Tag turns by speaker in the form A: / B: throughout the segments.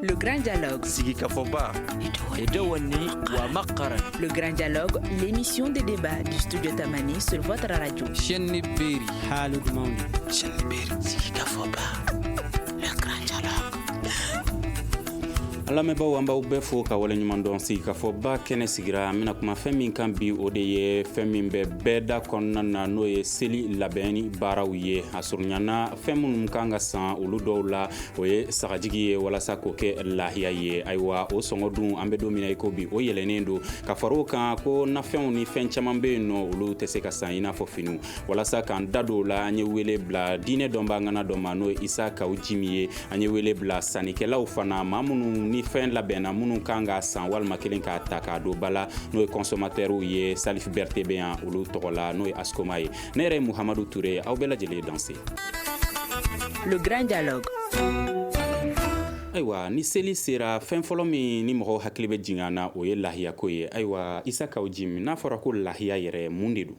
A: Le Grand Dialogue. Sigi
B: Kafoba. Et Dewani Wamakara. Le Grand
A: Dialogue, l'émission des débats du studio Tamani sur votre radio. Chenni Beri.
C: Halud Mauni.
D: Chenni Beri.
B: Sigi Kafoba. Le Grand
E: Dialogue. an lamɛnbaaw an b'aw bɛɛ fo ka wale ɲuman dɔn sigi ka fɔ ba kɛnɛ sigira an bɛna kuma fɛn min kan bi o de ye fɛn min bɛ bɛɛ da kɔnɔna na n'o ye seli labɛnni baaraw ye a surunyana fɛn minnu kan ka san olu dɔw la o ye sagajigi ye walasa k'o kɛ lahiya ye ayiwa o sɔngɔ dun an bɛ don min na i ko bi o yɛlɛnnen don ka far'o kan ko nafɛnw ni fɛn caman bɛ yen n'olu tɛ se ka san i n'a fɔ finiw walasa k'an da don o la an ye wele bila diinɛ dɔnbaa ŋana dɔ ma n'o ye isa kawu jimi ye an ye wele bila sannikɛlaw fana ma minnu ni fɛn labɛnna minnu kan ka san walima kelen k'a ta k'a don ba la n'o ye kɔnsɔmatɛriw ye salifu bɛrɛte bɛ yan olu tɔgɔ la n'o ye asikoma ye ne yɛrɛ ye muhamadu ture ye aw bɛɛ lajɛlen ye
A: danse le grand dialogue
E: ayiwa ni seli sera fɛn fɔlɔ min ni mɔgɔw hakili bɛ jigin na o ye lahiyako ye ayiwa isa kawu jimi n'a fɔra ko lahiya yɛrɛ mun de don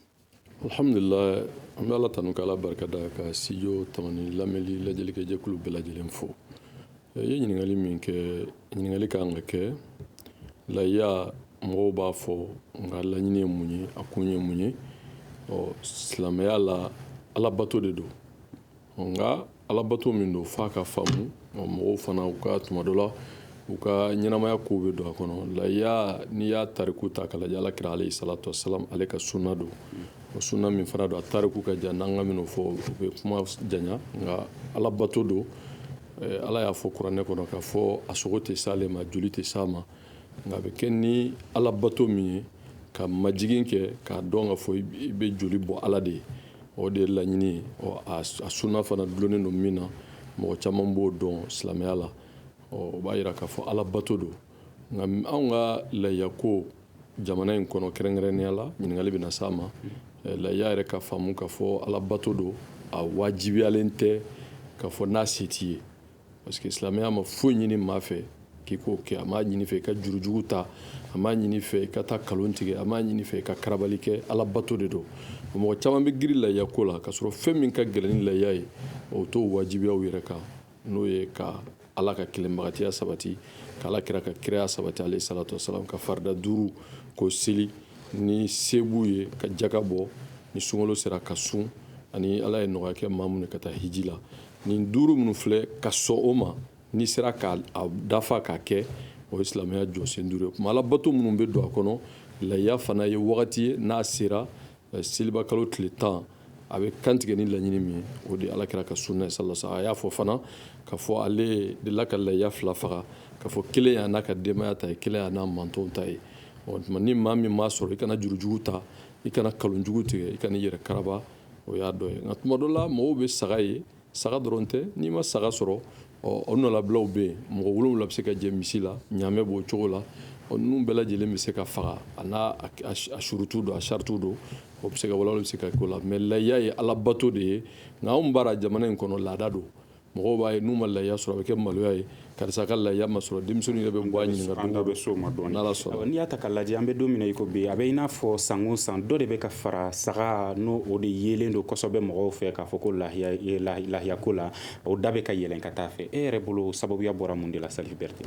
F: alhamdulillah an bɛ ala tanu ka ala barikada ka studio tamani lamɛli lajɛlikɛ jɛkulu bɛɛ lajɛlen fo i ye ɲininkali min kɛ ɲininkali ka kan ka kɛ lahiya mɔgɔw b'a fɔ nka laɲini ye mun ye a kun ye mun ye ɔ silamɛya la alabato de don nka alabato min don f'a ka faamu ɔ mɔgɔw fana u ka tuma dɔ la u ka ɲɛnamaya kow bɛ don a kɔnɔ layiya n'i y'a tariku ta k'a lajɛ alakira alayhi salatu wasalam ale ka sunna don o sunna min fana don a tariku ka jan n'an k'an bɛn'o fɔ o bɛ kuma janya nka alabato don ala y'a fɔ kuranɛ kɔnɔ k'a fɔ a sogo tɛ s'ale ma joli tɛ s'a ma nka a bɛ kɛ ni alabato min ye ka majigin kɛ k'a dɔn k'a fɔ i bɛ joli bɔ ala de ye o de ye laɲini ye ɔ a sunna fana dulonnen don min na mɔgɔ caman b'o dɔn silamɛya la ɔ o b'a yira k'a fɔ alabato don nka anw ka layiya ko jamana in kɔnɔ kɛrɛnkɛrɛnnenya la ɲininkali bɛna s'a ma layiya yɛrɛ ka faamu k'a fɔ alabato don a wajibiyalen tɛ k'a fɔ n'a se t'i ye Parce que silamɛya ma foyi ɲini maa fɛ k'i k'o kɛ a m'a ɲini i fɛ i ka jurujugu ta a m'a ɲini i fɛ i ka taa kalon tigɛ a m'a ɲini i fɛ i ka karabali kɛ alabato de don mɔgɔ caman bɛ girin layiya ko la k'a sɔrɔ fɛn min ka gɛlɛn ni layiya ye o t'o wajibiyaw yɛrɛ kan n'o ye ka ala ka kelenbagatiya sabati ka alakira ka kiraya sabati alayhi salatu wasalam ka farida duuru k'o seli ni se b'u ye ka jaka bɔ ni sunkalo sera ka sun ani ala ye nɔgɔya kɛ maa min ye ka taa hiji la nin duuru minnu filɛ ka sɔn o ma n'i sera k'a dafa k'a kɛ o ye silamɛya jɔsen duuru ye kuma alabato minnu bɛ don a kɔnɔ layiya fana ye wagati ye n'a sera eh, seliba kalo tile tan a bɛ kantigɛ ni laɲini min ye o de alakira ka sunna ye sallallahu alaihi wasallam a y'a fɔ fana k'a fɔ ale delila ka layiya fila faga k'a fɔ kelen y'a n'a ka denbaya ta ye kelen y'a n'a mantonw ta ye ɔ tuma ni maa min m'a sɔrɔ i kana jurujugu ta i kana kalonjugu tigɛ i kana i yɛrɛ karaba o y'a dɔ ye nka tuma dɔ la mɔgɔw bɛ saga ye saga dɔrɔn tɛ n'i ma saga sɔrɔ o nɔlabilaw bɛ yen mɔgɔ wolowula bɛ se ka jɛ misi la ɲaamɛ b'o cogo la ɔ ninnu bɛɛ lajɛlen bɛ se ka faga a n'a surutu don a saritiw don o bɛ se ka walawala bɛ se ka k'o la mais layiya ye alabato de ye nka anw bara jamana in kɔnɔ laada don mɔgɔw b'a ye n'u ma lahiya sɔrɔ a bɛ kɛ maloya ye karisa ka lahiya ma sɔrɔ denmisɛnninw yɛrɛ bɛ bɔ a ɲininka an da bɛ s'o ma
E: dɔɔnin n'ala sɔnna n'i y'a ta k'a
F: lajɛ an bɛ
E: don min na i ko bi a bɛ i n'a fɔ san o san dɔ de bɛ ka fara saga n'o o de yelen don kosɛbɛ mɔgɔw fɛ k'a fɔ ko lahiya e, lahiya ko la o da bɛ ka yɛlɛn ka taa a fɛ e yɛrɛ bolo sababuya bɔra mun de la Salif Berete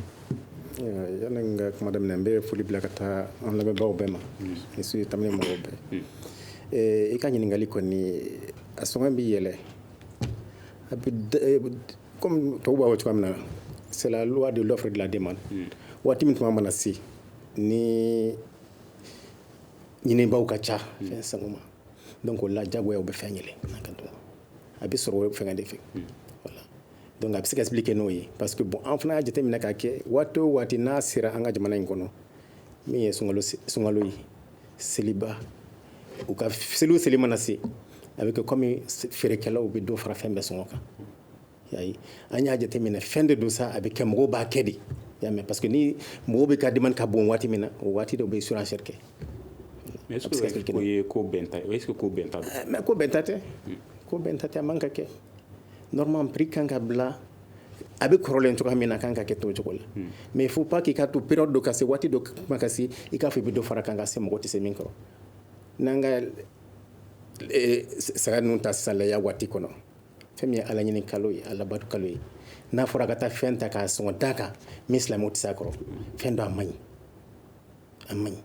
G: yanni n ka kuma daminɛ n bɛ foli bila ka taa an lamɛnbaaw bɛɛ ma ni su ye Tamani mɔgɔw bɛɛ i ka ɲininkali kɔni a sɔngɔ bɛ yɛlɛ kɔmi tɔw b'a fɔ cogoya min na c'est la loi de l'offre de la demande waati min tuma mana se ni ɲinibaw ka ca fɛn sanko ma donc o la jagoya u bɛ fɛn yɛlɛ a bɛ sɔrɔ fɛngɛ de fɛ voilà donc a bɛ se ka expliquer n'o ye parce que bon an fana y'a jateminɛ k'a kɛ waati o waati n'a sera an ka jamana in kɔnɔ min ye sunkalo ye seliba u ka seli o seli mana se a bɛ kɛ kɔmi feerekɛlaw bɛ dɔ fara fɛn bɛɛ sɔngɔ kan yayi an y'a jateminɛ fɛn de don sa a bɛ kɛ mɔgɔw b'a kɛ de y'a mɛn parce que ni mɔgɔw bɛɛ ka demande ka bon waati min na o waati de u bɛ surenchère kɛ
E: mais est-ce que o ye ko bɛnta ye est-ce que ko bɛnta don mais ko bɛnta tɛ
G: ko bɛnta tɛ a man ka kɛ normalement prix kan ka bila a bɛ kɔrɔlen cogoya min na kan ka kɛ t'o cogo la hmm. mais faut pas k'i ka to période dɔ ka se waati dɔ kuma ka se i k'a fɔ i bɛ dɔ fara kan ka se mɔgɔ tɛ se min kɔrɔ n'an ka eh, saga ninnu ta sisan lahiya waati kɔnɔ fɛn min ye ala ɲini kalo ye alabatu kalo ye n'a fɔra ka taa fɛn ta k'a sɔngɔ da kan min silamɛw tɛ se a kɔrɔ fɛn don a man ɲi a man ɲi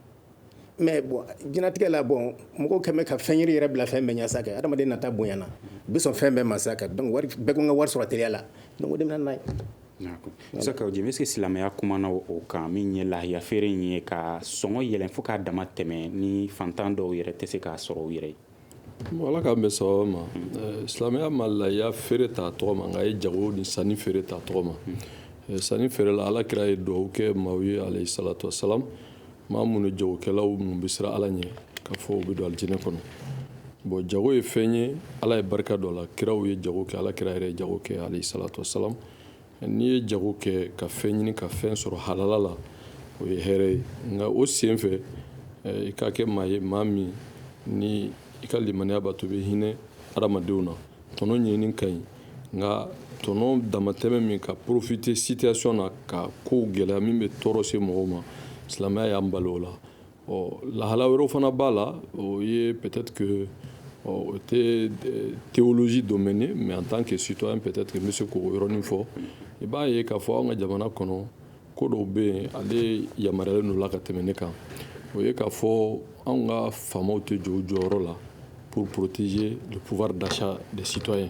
G: mais bon diɲɛlatigɛ la bon mɔgɔw kɛmɛ ka fɛn i yɛrɛ bila fɛn bɛɛ ɲɛ sa kɛ adamaden nata bonyana bi sɔn fɛn bɛɛ ma sa kɛ donc wari bɛɛ ko n ka wari sɔrɔ teliya la donc o de bɛ na n'a ye Isa
E: Kawu Jim est-ce que silamɛya kumana o kan min ye lahiya feere in ye ka sɔngɔ yɛlɛn fo k'a dama tɛmɛ ni fantan dɔw yɛrɛ tɛ se k'a sɔrɔ u yɛrɛ ye Ala k'an
F: bɛɛ sababa ma silamɛya ma layiya feere ta tɔgɔ ma nka a ye jago ni sanni feere ta tɔgɔ ma sanni feere la ala kira ye duwawu kɛ maaw ye alayhi salatu wasalam maa minnu jagokɛlaw minnu bɛ siran ala ɲɛ k'a fɔ u bɛ don alijinɛ kɔnɔ bon jago ye fɛn ye ala ye barika don a la kiraw ye jago kɛ ala kira yɛrɛ ye jago kɛ alayhi salatu wasalam n'i ye jago kɛ ka fɛn ɲini ka fɛn sɔrɔ halala la o ye hɛrɛ ye nka o sen fɛ eh, i ka kɛ maa ye maa min ni i ka limaniya b'a to i bɛ hinɛ adamadenw na tɔnɔ ɲinini ka ɲi nka tɔnɔ damatɛmɛ min ka profiter situation na ka kow gɛlɛya min bɛ tɔɔrɔ se mɔgɔw ma silamɛya y'an bali o la ɔ lahala wɛrɛw fana b'a la o ye peut-être que ɔ o tɛ théologie domaine ye mais en tant que citoyen peut-être que n bɛ se k'o yɔrɔnin fɔ i b'a ye k'a fɔ anw ka jamana kɔnɔ ko dɔw bɛ yen ale yamaruyalen don o la ka tɛmɛ ne kan o ye k'a fɔ anw ka faamaw tɛ jɔ u jɔyɔrɔ la pour protéger le pouvoir d'achat des citoyens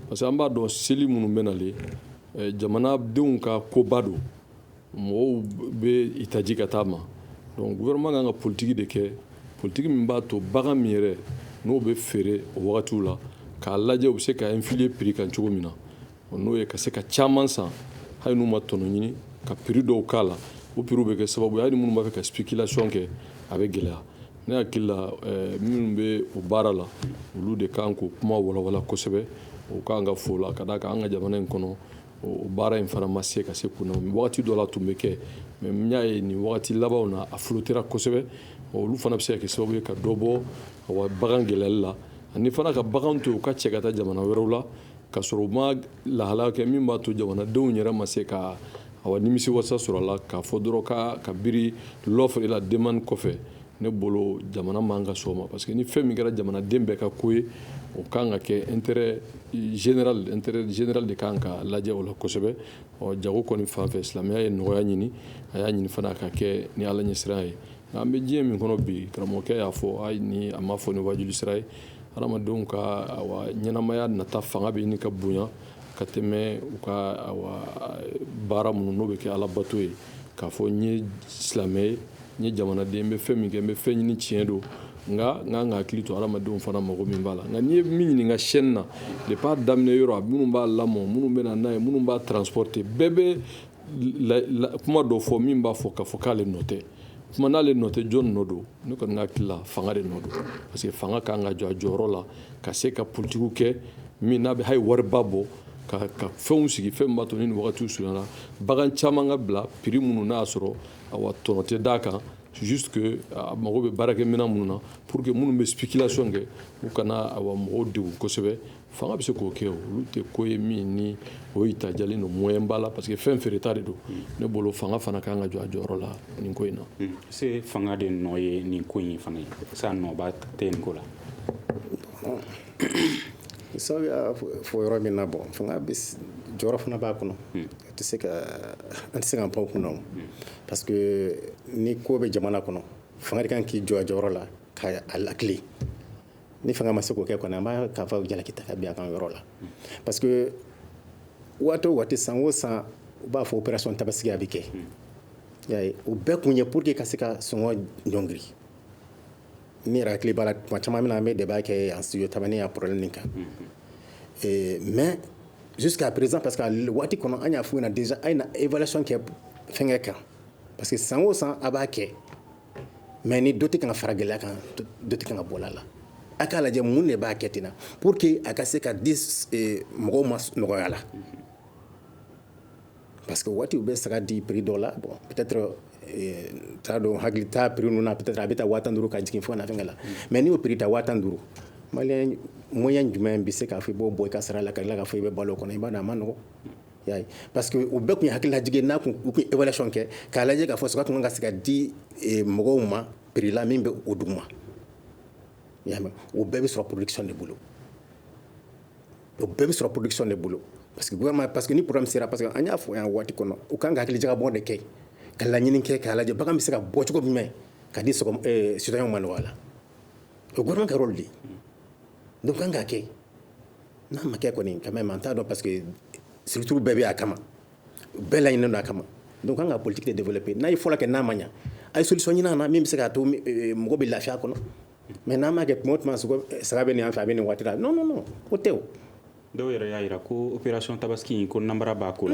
F: parce que an b'a dɔn seli minnu bɛ nalen jamanadenw ka koba don mɔgɔw bɛ i taji ka taa ma donc gouvernement kan ka politiki de kɛ politiki min b'a to bagan min yɛrɛ n'o bɛ feere o wagatiw la k'a lajɛ u bɛ se ka influer prix kan cogo min na n'o ye ka se ka caman san hali n'u ma tɔnɔ ɲini ka prix dɔ k'a la o prix bɛ kɛ sababu ye hali minnu b'a fɛ ka spéculation kɛ a bɛ gɛlɛya ne hakili la eh, minnu bɛ o baara la olu de kan k'o kuma walawala kosɛbɛ o kan ka fɔ o la ka d'a kan an ka jamana in kɔnɔ o baara in fana ma se ka se kun na wagati dɔ la tun bɛ kɛ mais n y'a ye nin wagati labanw na a flottera kosɛbɛ olu fana bɛ se ka kɛ sababu ye ka dɔ bɔ awa bagan gɛlɛyali la ani fana ka bagan to u ka cɛ ka taa jamana wɛrɛw la ka sɔrɔ u ma lahala kɛ min b'a to jamanadenw yɛrɛ ma se ka awa nimisi wasa sɔrɔ a la k'a fɔ dɔrɔn ka ka biri l'offre et la demande kɔfɛ ne bolo jamana man ka sɔn o ma parce que ni fɛn min kɛra jamanaden bɛɛ ka ko ye o kan ka kɛ intérêt général intérêt général de kan ka lajɛ o la kosɛbɛ ɔ jago kɔni fan fɛ silamɛya ye nɔgɔya ɲini a y'a ɲini fana a ka kɛ ni ala ɲɛsiran ye nka an bɛ diɲɛ min kɔnɔ bi karamɔgɔkɛ y'a fɔ hali ni a ma fɔ ni wajuli sira ye hadamadenw ka awa ɲɛnamaya nata fanga bɛ ɲini ka bonya ka tɛmɛ u ka awa baara minnu n'o bɛ kɛ alabato ye k'a fɔ n ye silamɛ ye n ye jamanaden n bɛ fɛn min kɛ n bɛ fɛn ɲini tiɲɛ don nka n kan ka hakili to adamadenw fana mago min b'a la nka n'i ye min ɲininka chaîne na depuis a daminɛ yɔrɔ a minnu b'a lamɔ minnu bɛ na n'a ye minnu b'a transporter bɛɛ bɛ kuma dɔ fɔ min b'a fɔ k'a fɔ k'ale nɔ tɛ kuma n'ale nɔ tɛ jɔni nɔ don ne kɔni ka hakili la fanga de nɔ don parce que fanga ka kan ka jɔ a jɔyɔrɔ la ka se ka politikiw kɛ min n'a bɛ hali wariba bɔ ka ka fɛnw sigi fɛn min b'a to ni nin wagatiw surunyana bagan caman ka bila prix minnu n'a y'a sɔrɔ awa tɔnɔ tɛ d'a kan juste que a mago bɛ baarakɛminɛn minnu na pour que minnu bɛ spéculation kɛ u kana awa mɔgɔw degun kosɛbɛ fanga bɛ se k'o kɛ olu tɛ ko ye min ni o itajalen don moyen b'a la parce que fɛn feereta de don ne bolo fanga fana ka kan ka jɔ a jɔyɔrɔ la nin ko in na hmm. se fanga
E: de nɔ ye nin ko in fana ye sa nɔba tɛ nin ko
G: la sabu y'a fɔ yɔrɔ min na bon fanga bɛ jɔyɔrɔ fana b'a kɔnɔ hmm. a tɛ se ka an tɛ se k'an pan kunna parce que ni ko bɛ jamana kɔnɔ fanga de kan k'i jɔ a jɔyɔrɔ la ka a laki ni fanga ma se k'o kɛ kɔni an b'a k'a fɔ jalaki ta ka bin a kan yɔrɔ la parce que waati o waati san o san u b'a fɔ opération tabasigi a bɛ kɛ o bɛɛ kun ye pour que ka se ka sɔngɔ ɲɔngiri ne yɛrɛ hakili b'a la tuma caman min na an bɛ débat kɛ yan studio tamani yan problème nin kan eh, mais jusqu'à présent parce que waati kɔnɔ an y'a f'u ɲɛna déjà a ye na évaluation kɛ fɛnkɛ kan parce que san o san a b'a kɛ mais ni dɔ tɛ kan ka fara gɛlɛya kan dɔ tɛ kan ka bɔ a la a k'a lajɛ mun de b'a kɛ ten na pour que a ka se ka di eh, mɔgɔw ma nɔgɔya la parce que waati u bɛ saga di prix dɔ la bon peut-être euh, t'a dɔn hakili t'a prix ninnu na peut-être a bɛ ta waa tan duuru ka jigin fo ka na fɛnkɛ la mais n'i y'o prix ta waa tan duuru maliyɛn moyen jumɛn bɛ se k'a fɔ i b'o bɔ i ka sara la ka tila k'a fɔ i bɛ balo o kɔnɔ i b'a dɔn a ma nɔgɔn y'a ye parce que o bɛɛ tun ye hakililajigin n'a tun u tun évaluation kɛ k'a lajɛ k'a fɔ saga tun kan ka se ka di eh, mɔgɔw ma prix la min bɛ o duguma y'a mɛn o bɛɛ bɛ sɔrɔ production de bolo o bɛɛ bɛ sɔrɔ production de bolo parce que gouvernement parce que ni problème sera parce que an y'a fɔ yan waati kɔnɔ u kan ka hakili jagabɔ de kɛ ka laɲini kɛ k'a lajɛ bagan bɛ se ka bɔ cogo jumɛn ka di sɔgɔ eh, citoyen ma nɔgɔya la o gouvernement ka rôle de ye donc kan ka kɛ n'a ma kɛ kɔni quand même an t'a dɔn parce que structure bɛɛ bɛ a kama bɛɛ laɲininen don a kama donc kan ka politique de développer n'a ye fɔlɔ kɛ n'a ma ɲa a ye solution ɲini a na min bɛ se k'a to eh, mɔgɔ bɛ lafiya kɔnɔ mais n'a ma kɛ tuma o tuma saga bɛ nin fɛ a bɛ nin waati la non o tɛ dɔw yɛrɛ y'a
E: jira ko opération tabasigi ko nanbara b'a ko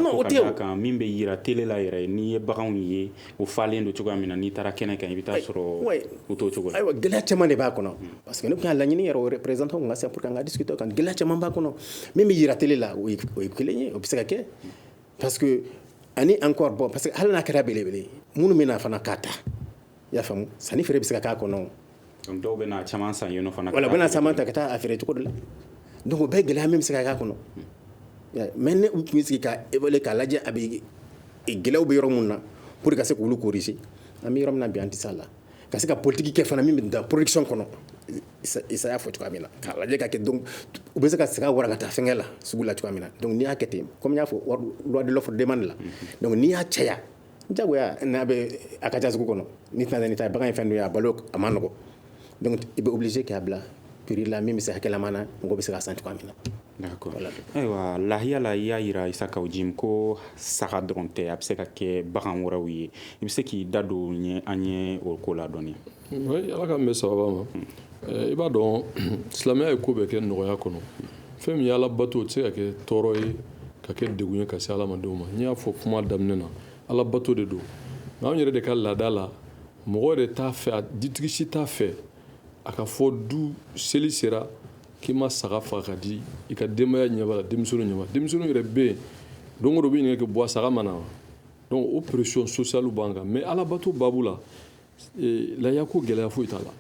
E: kan min bɛ
G: jira
E: télé la yɛrɛ n'i ye baganw ye o falen don cogoya min na n'i taara kɛnɛ kan i bɛ taa sɔrɔ u t'o cogo ayiwa gɛlɛya caman de b'a
G: kɔnɔ parce que ne tun y'a laɲini yɛrɛ représentant ka se ka discuter o kan gɛlɛya caman b'a kɔnɔ min bɛ jira télé la o ye kelen ye o bɛ se ka kɛ parce que ani encore bon parce que hali n'a kɛra belebele minnu bɛ na fana k'a ta i y'a faamu sanni feere bɛ se ka k'a kɔnɔ donc dɔw
E: bɛna caman san yen nɔ fana voilà u bɛna caman ta ka taa
G: a feere cogo de la donc o bɛɛ gɛlɛya min bɛ se ka k'a kɔnɔ mais ni u tun sigi ka évaluer k'a lajɛ a bɛ gɛlɛyaw bɛ yɔrɔ min na pour ka se k'olu corriger an bɛ yɔrɔ min na bi an tɛ s'a la ka se ka politiki kɛ fana min bɛ da production kɔnɔ Isa y'a fɔ cogoya min na k'a lajɛ ka kɛ donc u bɛ se ka saga walankata fɛnkɛ la sugu la cogoya min na donc n'i y'a kɛ ten comme n y'a fɔ loi de l'offre demande la donc n'i y'a caya jagoya n'a bɛ a ka ca sugu kɔnɔ ni tɛna nin ta bagan ye fɛn dɔ ye a balo a ma nɔgɔ donc i bɛ obligé k'a bila prix la min bɛ se hakɛlama na mɔgɔ bɛ se k'a san cogoya min na
E: ayiwa lahiya la i y'a yira isa kawu jim ko saga dɔrɔn tɛ a bɛ se ka kɛ bagan wɛrɛw ye i bɛ se k'i da don an ye o ko la dɔɔni Ala k'an
F: bɛn sababa ma i b'a dɔn silamɛya ye ko bɛɛ kɛ nɔgɔya kɔnɔ fɛn min ye ala bato tɛ se ka kɛ tɔɔrɔ ye ka kɛ degun ye ka se adamadenw ma n y'a fɔ kuma daminɛ na ala bato de don nka an yɛrɛ de ka laada la mɔgɔ de t'a fɛ a dutigi si t'a fɛ a ka fɔ du seli sera k'i ma saga faga ka di i ka denbaya ɲɛ b'a la denmisɛnninw ɲɛ b'a la denmisɛnninw yɛrɛ bɛ yen don o don u bɛ ɲininkali kɛ bɔ saga ma na wa donc o pression sociale b'an kan mais ala bato baabu la lahiya ko gɛlɛya foyi t'a la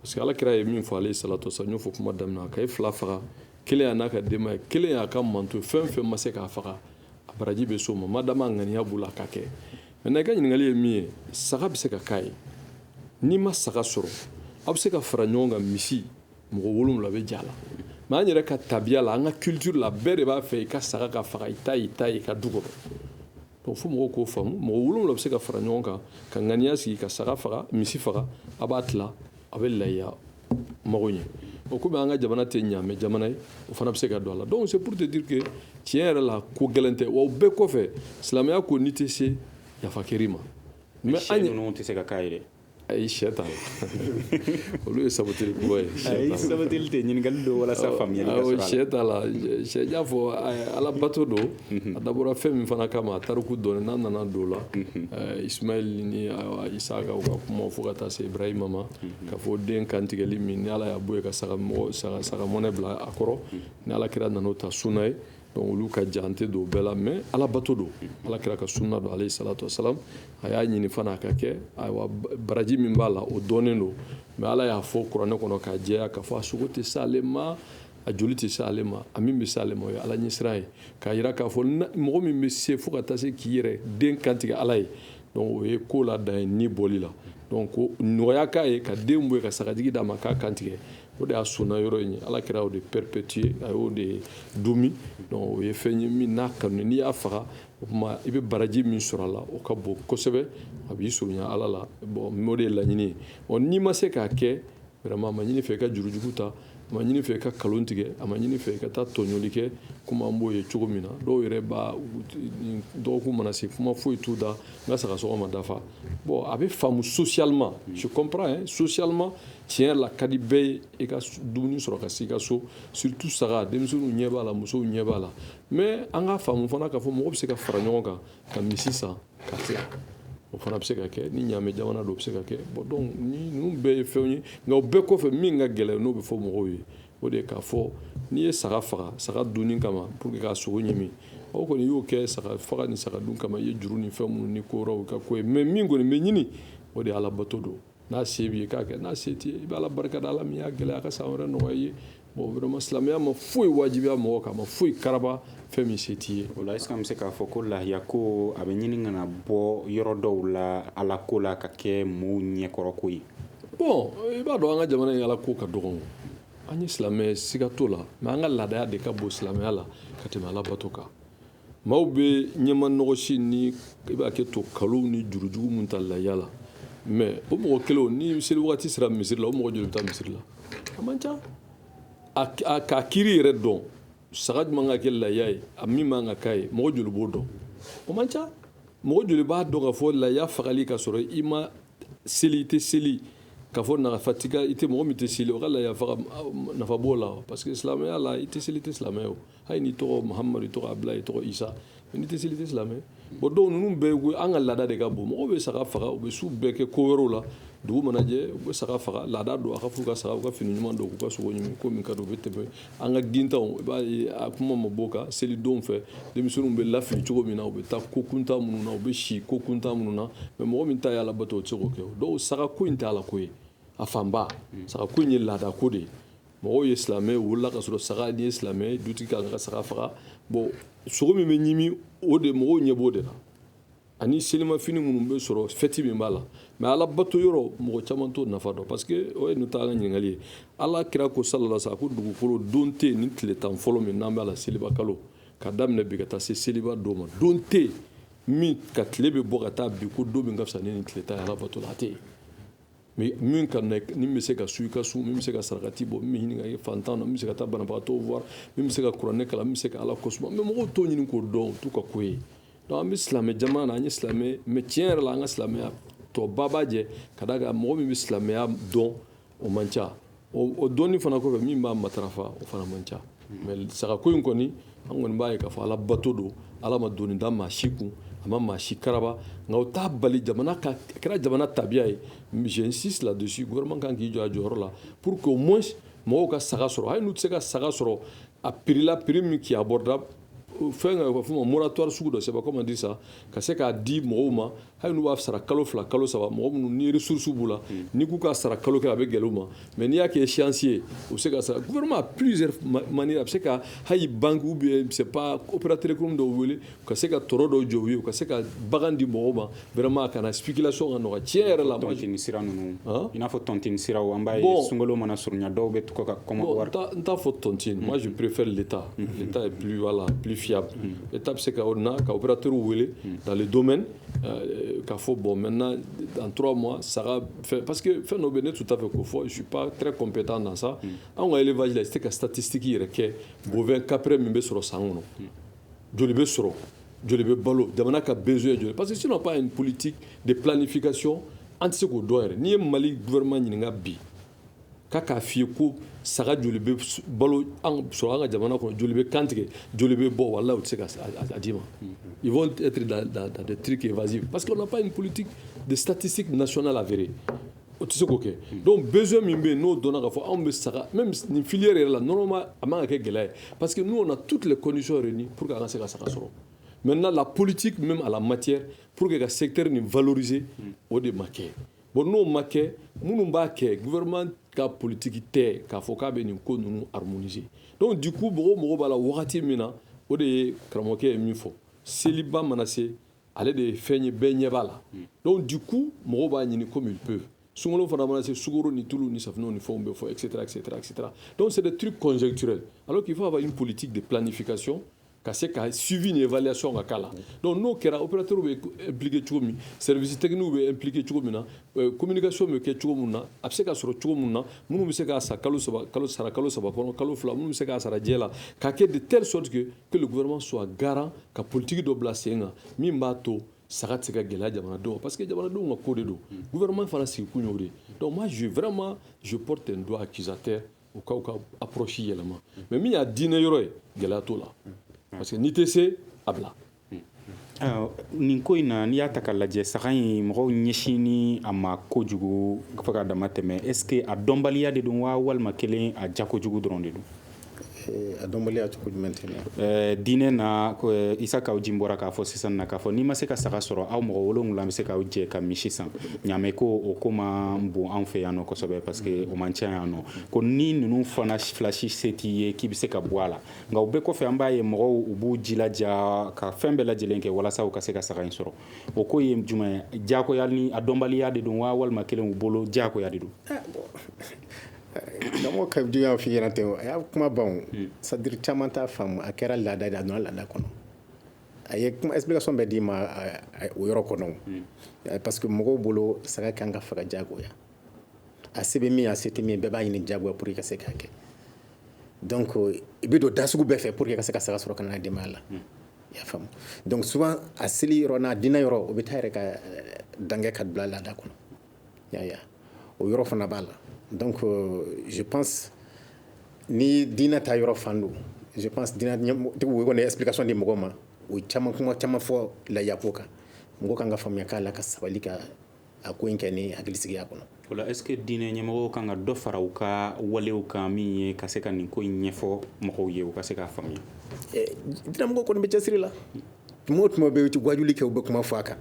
F: parce que ala kira ye min fɔ alayhi salatu wasalam n y'o fɔ kuma daminɛ na k'a ye fila faga kelen y'a n'a ka denbaya kelen y'a ka mantɔn ye fɛn fɛn ma se k'a faga a baraji bɛ s'o ma madama a ŋaniya b'o la a ka kɛ maintenant i ka ɲininkali ye min ye saga bɛ se ka k'a ye n'i ma saga sɔrɔ aw bɛ se ka fara ɲɔgɔn kan misi mɔgɔ wolonwula bɛ j'a la mais an yɛrɛ ka tabiya la an ka culture la bɛɛ de b'a fɛ i ka saga ka faga i ta i ta i ka du kɔnɔ donc fo mɔgɔw k'o faamu mɔgɔ wolonwula bɛ se ka fara ɲɔgɔn kan ka ŋaniya sigi ka saga faga misi faga a b'a tila a bɛ layiya mago ɲɛ o komi an ka jamana tɛ ɲaamɛ jamana ye o fana bɛ se ka don a la donc c'est pour te dire que tiɲɛ yɛrɛ la ko gɛlɛn tɛ wa o bɛɛ kɔfɛ silamɛya ko n'i tɛ se yafa kɛr'i ma mais sɛ
E: ninnu tɛ se ka k'a ye dɛ ayi sɛ t'a
F: la olu ye saboteli kuma ye ayi saboteli
E: tɛ ɲininkali don walasa faamuyali ka sɔrɔ a la sɛ t'a la
F: sɛ y'a fɔ ala bato don mhm. a dabɔra fɛn min fana kama a tariku dɔɔni n'a nana don o la mhm. eh, ismaili ni eh, isaka u ka kuma fo ka taa se ibrahima ma mhm. ka fɔ den kantigɛli min ni ala y'a bɔ yen ka saga mɔnɛ bila a kɔrɔ ni ala kira nana o ta sunna ye donc olu ka jan n tɛ don o bɛɛ la mais ala bato don ala kira ka sunna don alayhi salatu wasalam a y'a ɲini fana a ka kɛ ayiwa baraji min b'a la o dɔnnen don mais ala y'a fɔ kuranɛ kɔnɔ k'a jɛya k'a fɔ a sogo tɛ se ale ma a joli tɛ se ale ma a min bɛ se ale ma o ye ala ɲɛsiran ye k'a yira k'a fɔ mɔgɔ min bɛ se fo ka taa se k'i yɛrɛ den kantigɛ ala ye donc o ye ko la dan ye ni bɔli la donc ko nɔgɔya k'a ye ka den bɔ yen ka sagajigi d'a ma k'a kantigɛ o de y'a sunna yɔrɔ in ye ala kira y'o de perpétuer a y'o de duumɛ donc o ye fɛn ye min n'a kanu n'i y'a faga o tuma i bɛ baraji min sɔrɔ a la o ka bon kosɛbɛ a b'i surunya ala la bon o de ye laɲini ye ɔ n'i ma se k'a kɛ vraiment a ma ɲini i fɛ i ka jurujugu ta a ma ɲini i fɛ i ka nkalon tigɛ a ma ɲini i fɛ i ka taa tɔɲɔli kɛ komi an b'o ye cogo min na dɔw yɛrɛ b'a dɔgɔkun mana se kuma foyi t'u da n ka sagasɔngɔ ma dafa bon a bɛ faamu socialement je comprends hein socialement tiɲɛ la ka di bɛɛ ye i ka dumuni sɔrɔ ka se i ka so surtout saga denmisɛnninw ɲɛ b'a la musow ɲɛ b'a la mais an k'a faamu fana k'a fɔ mɔgɔ bɛ se ka fara ɲɔgɔn kan ka misi san ka tila o fana bɛ se ka kɛ ni ɲaamɛ jamana don o bɛ se ka kɛ bon donc ni ninnu bɛɛ ye fɛnw ye nka o bɛɛ kɔfɛ min ka gɛlɛn n'o bɛ fɔ mɔgɔw ye o de ye k'a fɔ n'i ye saga faga saga dunni kama pour que k'a sogo ɲimi o kɔni y'o kɛ saga faga ni saga dun kama i ye juru ni fɛn minnu ni ko wɛrɛw ka ko ye mais min kɔni bɛ ɲini o de ye ala bato don N'a se b'i ye i k'a kɛ n'a se t'i ye i bɛ Ala barika da Ala min y'a gɛlɛya a ka san wɛrɛ nɔgɔya i ye bon vraiment silamɛya ma foyi wajibiya mɔgɔ kan a ma foyi karaba fɛn min se t'i ye o la est ce que an bɛ se k'a fɔ
E: ko lahiya ko a bɛ ɲini ka na bɔ yɔrɔ dɔw la Ala ko la ka kɛ
F: mɔɔw
E: ɲɛkɔrɔ
F: ko ye bon i b'a dɔn an
E: ka
F: jamana in Ala
E: ko
F: ka dɔgɔn an ye silamɛ siga t'o la mais an ka laadaya de ka bon silamɛya la ka tɛmɛ Ala bato kan maaw bɛ ɲɛma nɔgɔsi ni i b'a kɛ to kalo ni jurujugu min ta laya la mais o mɔgɔ kelen ni seli waati sera misiri la o mɔgɔ joli bɛ taa misiri la a man ca k'a kiiri yɛrɛ dɔn saga jumɛn ka kɛ laya ye a min man ka k'a ye mɔgɔ joli b'o dɔn o man ca mɔgɔ joli b'a dɔn k'a fɔ laya fagali ka sɔrɔ i ma seli i tɛ seli k'a fɔ nafa i tɛ mɔgɔ min tɛ seli o ka laya faga nafa b'o la parce que silamɛya la i tɛ seli i tɛ silamɛ o hali n'i tɔgɔ mahamadu i tɔgɔ abdulayi i tɔgɔ isa n'i tɛ seli i tɛ silamɛ bon donc ninnu bɛɛ ko an ka laada de ka bon mɔgɔw bɛ saga faga u bɛ su bɛɛ kɛ ko wɛrɛw la dugu mana jɛ u bɛ saga faga laada don a ka f'u ka saga u ka fini ɲuman don k'u ka sogo ɲimi ko min ka di u bɛ tɛmɛ an ka gintanw i b'a ye a kuma ma b'o kan selidonw fɛ denmisɛnninw bɛ lafili cogo min na u bɛ taa ko kuntan minnu na u bɛ si ko kuntan minnu na mais mɔgɔ min ta ye ala bato o tɛ se k'o kɛ donc saga ko in tɛ ala ko ye a fanba saga ko in ye laada ko de ye mɔgɔw ye silamɛ wolola k'a sɔrɔ saga ni ye silamɛ dutigi kan ka saga faga bon sogo min bɛ ɲimi o de mɔgɔw ɲɛ b'o de la ani selimafini minnu bɛ sɔrɔ fɛti min b'a la mais ala bato yɔrɔ mɔgɔ caman t'o nafa dɔn parce que o ye nin t'an ka ɲininkali ye ala kira ko salala sa ko dugukolo don tɛ yen ni tile tan fɔlɔ min n'an b'a la seliba kalo ka daminɛ bi ka taa se seliba don ma don tɛ yen min ka tile bɛ bɔ ka taa bin ko don min ka fisa ni nin tile tan ye ala bato la a tɛ yen Mais min ka nɛk min bɛ se ka sun i ka sun min bɛ se ka sarakati bɔ min bɛ hinɛ fantan na min bɛ se ka taa banabagatɔ voir min bɛ se ka kuranɛ kalan min bɛ se ka ala kosuma mais mɔgɔw t'o ɲini k'o dɔn o t'u ka ko ye donc an bɛ silamɛ jamana na an ye silamɛ mais tiɲɛ yɛrɛ la an ka silamɛya tɔba b'a jɛ ka d'a kan mɔgɔ min bɛ silamɛya dɔn o man ca o dɔnni fana kɔfɛ min b'a matarafa o fana man ca mais sagako in kɔni an kɔni b'a ye k'a fɔ ala bato don ala ma doni da maa si kun a ma maa si karaba nka o t'a bali jamana ka a kɛra jamana tabiya ye j'insiste là-dessus gouvernement kan k'i jɔ a jɔyɔrɔ la pour que au moins mɔgɔw ka saga sɔrɔ hali n'u tɛ se ka saga sɔrɔ a prix la prix min qui est abordable fɛn ka fɔ ma moratoire sugu dɔ sɛbɛn comment dire ça ka se k'a di mɔgɔw ma hali b'a sara kalo fila kalo saba mɔgɔ minnu ni surusu b'u la hmm. n'i k'u ka sara kalo kɛ a bɛ gɛlɛn ma mɛ n'i y'a kɛ siyansi ye u bɛ se ka sara gma psi mani a bɛ se ka hali bangeku bɛ se pa operaterikun dɔw wele ka se ka tɔɔrɔ dɔw jɔ ye u ka se ka bagan di mɔgɔw ma wɛrɛma kana fikila sɔn ka nɔgɔ cɛ yɛrɛ la tɔn sira ninnu
E: i n'a fɔ tɔnt sira an b'a ye sunkolo mana surunya dɔw bɛ tɔgɔ ka kɔn n t'a fɔ tɔntin
F: masuurpere de ta n ta ye pwa la pfiya État bɛ se ka na ka opérateur wele hmm. dans le domaine euh, k'a fɔ bon maintenant dans trois mois saga fɛn parce que fɛn dɔ bɛ ne tun t'a fɛ k'o fɔ je suis pas très compétent dans ça hmm. anw ka élevage la i tɛ se ka statistique yɛrɛ kɛ bovin caprin min bɛ sɔrɔ san kɔnɔ hmm. joli bɛ sɔrɔ joli bɛ balo jamana ka besoin joli parce que si on n'a pas une politique de planification an tɛ se k'o dɔn yɛrɛ n'i ye mali gouvernement ɲininka bi Ka k'a f'i ye ko saga joli bɛ balo sɔrɔ an ka jamana kɔnɔ joli bɛ kantigɛ joli bɛ bɔ wala u tɛ se ka d'i ma i bɛ tike vze pa que pa in politi de satisi na sɔnna lafeere o tɛ se k'o kɛ don bɛzo min bɛ yen n'o dɔn ka fɔ anw bɛ saga nin fili yɛrɛ la nɔnɔma a ma kɛ gɛlɛya ye pa que n'o na tu tilele kɔnsɔn yɛrɛ nin pur que ka se ka saga sɔrɔ mɛ nana la politi min a la macɛ pur que ka sete ni vze o de ma kɛ Bon n'o ma kɛ minnu b'a kɛ gma ka politigi tɛ k'a fɔ k'a bɛ nin ko ninnu harze dɔnku di ko mɔgɔw mɔgɔ b'a la wagati min na o de ye karamɔgɔkɛ ye min fɔ seliba mana se ale de ye fɛn ye bɛɛ ɲɛ b'a la dɔnku di ko mɔgɔ b'a ɲini ko min pe sun fana mana se sgoro ni tulu ni safunɛ ni fɛnw bɛ fɔ e sera sera sera dɔw selen tiri kɔnɛcɛ ale k'i fɔ a bɛ politigi de pla nifikasi ka se ka suivi ni évaluation ka k'a la donc n'o kɛra opérateur bɛ impliquer cogo min service technique bɛ impliquer cogo min na euh, communication bɛ kɛ cogo min na a bɛ se ka sɔrɔ cogo min na minnu bɛ se k'a sa kalo saba kalo sara kalo saba kɔnɔ kalo fila minnu bɛ se k'a sara diɲɛ la k'a kɛ de telle sorte que que le gouvernement soit garant ka politique dɔ bila sen kan min b'a to saga tɛ se ka gɛlɛya jamanadenw parce que jamanadenw ka ko de don gouvernement fana sigikun y'o de donc moi je vraiment je porte un doigt accusateur u k'u ka approche yɛlɛma mais min y'a diinɛ yɔrɔ ye gɛlɛya t'o la parce que n'i tɛ se a bila ah,
E: nin ko in na n'i y'a ta k'a lajɛ saga in mɔgɔw ɲɛsinnen a ma kojugu fo ka dama tɛmɛ est ce que a dɔnbaliya de don wa walima kelen a ja kojugu dɔrɔn de don eh,
G: a dɔnbaliya cogo jumɛn tɛna eh, diinɛ na
E: eh, Isa Kawu Jim bɔra k'a fɔ sisan na k'a fɔ n'i ma se ka saga sɔrɔ aw mɔgɔ wolonwula bɛ se k'aw jɛ ka misi san ɲamɛ ko o ko ma bon an fɛ yan nɔ kosɛbɛ parce que o man ca yan nɔ ko ni ninnu fana fila si se t'i ye k'i bɛ se ka bɔ a la nka o bɛɛ kɔfɛ an b'a ye mɔgɔw u b'u jilaja ka fɛn bɛɛ lajɛlen kɛ walasa u ka se ka saga in sɔrɔ o ko ye jumɛn jagoya ni a dɔnbaliya de don wa walima kɛlen u bolo jagoya de
G: don lamɔ ka juguya fi ɲɛna tɛ a y'a kuma bon c'est-à-dire caman t'a faamu a kɛra laada de a donna laada kɔnɔ a ye kuma explication bɛɛ d'i ma o yɔrɔ kɔnɔ hmm. parce que mɔgɔw bolo saga kan ka faga jagoya a se bɛ min a se tɛ min bɛɛ b'a ɲini jagoya pour que ka se k'a kɛ donc i bɛ don da sugu bɛɛ fɛ pour que ka se ka saga sɔrɔ ka na denbaya la hmm. i y'a faamu donc souvent a seli yɔrɔ n'a dina yɔrɔ o bɛ taa yɛrɛ ka eh, dangɛ ka bila laada kɔnɔ y'a o yɔrɔ fana b'a la donc euh, je pense ni diinɛ ta yɔrɔ fan don je pense diinɛtigiw kɔni explication di mɔgɔ ma o caman kuma caman fɔ lahiya ko kan mɔgɔ kan ka faamuya k'a la ka sabali ka a ko in kɛ ni hakilisigiya kɔnɔ o la est ce que
E: diinɛ ɲɛmɔgɔw kan ka dɔ fara u ka walew kan min ye ka se ka nin ko in ɲɛfɔ mɔgɔw ye u ka se k'a faamuya eh,
G: diinɛmɔgɔw kɔni bɛ cɛsiri la tuma o tuma u bɛ wajuli kɛ u bɛ kuma fɔ a kan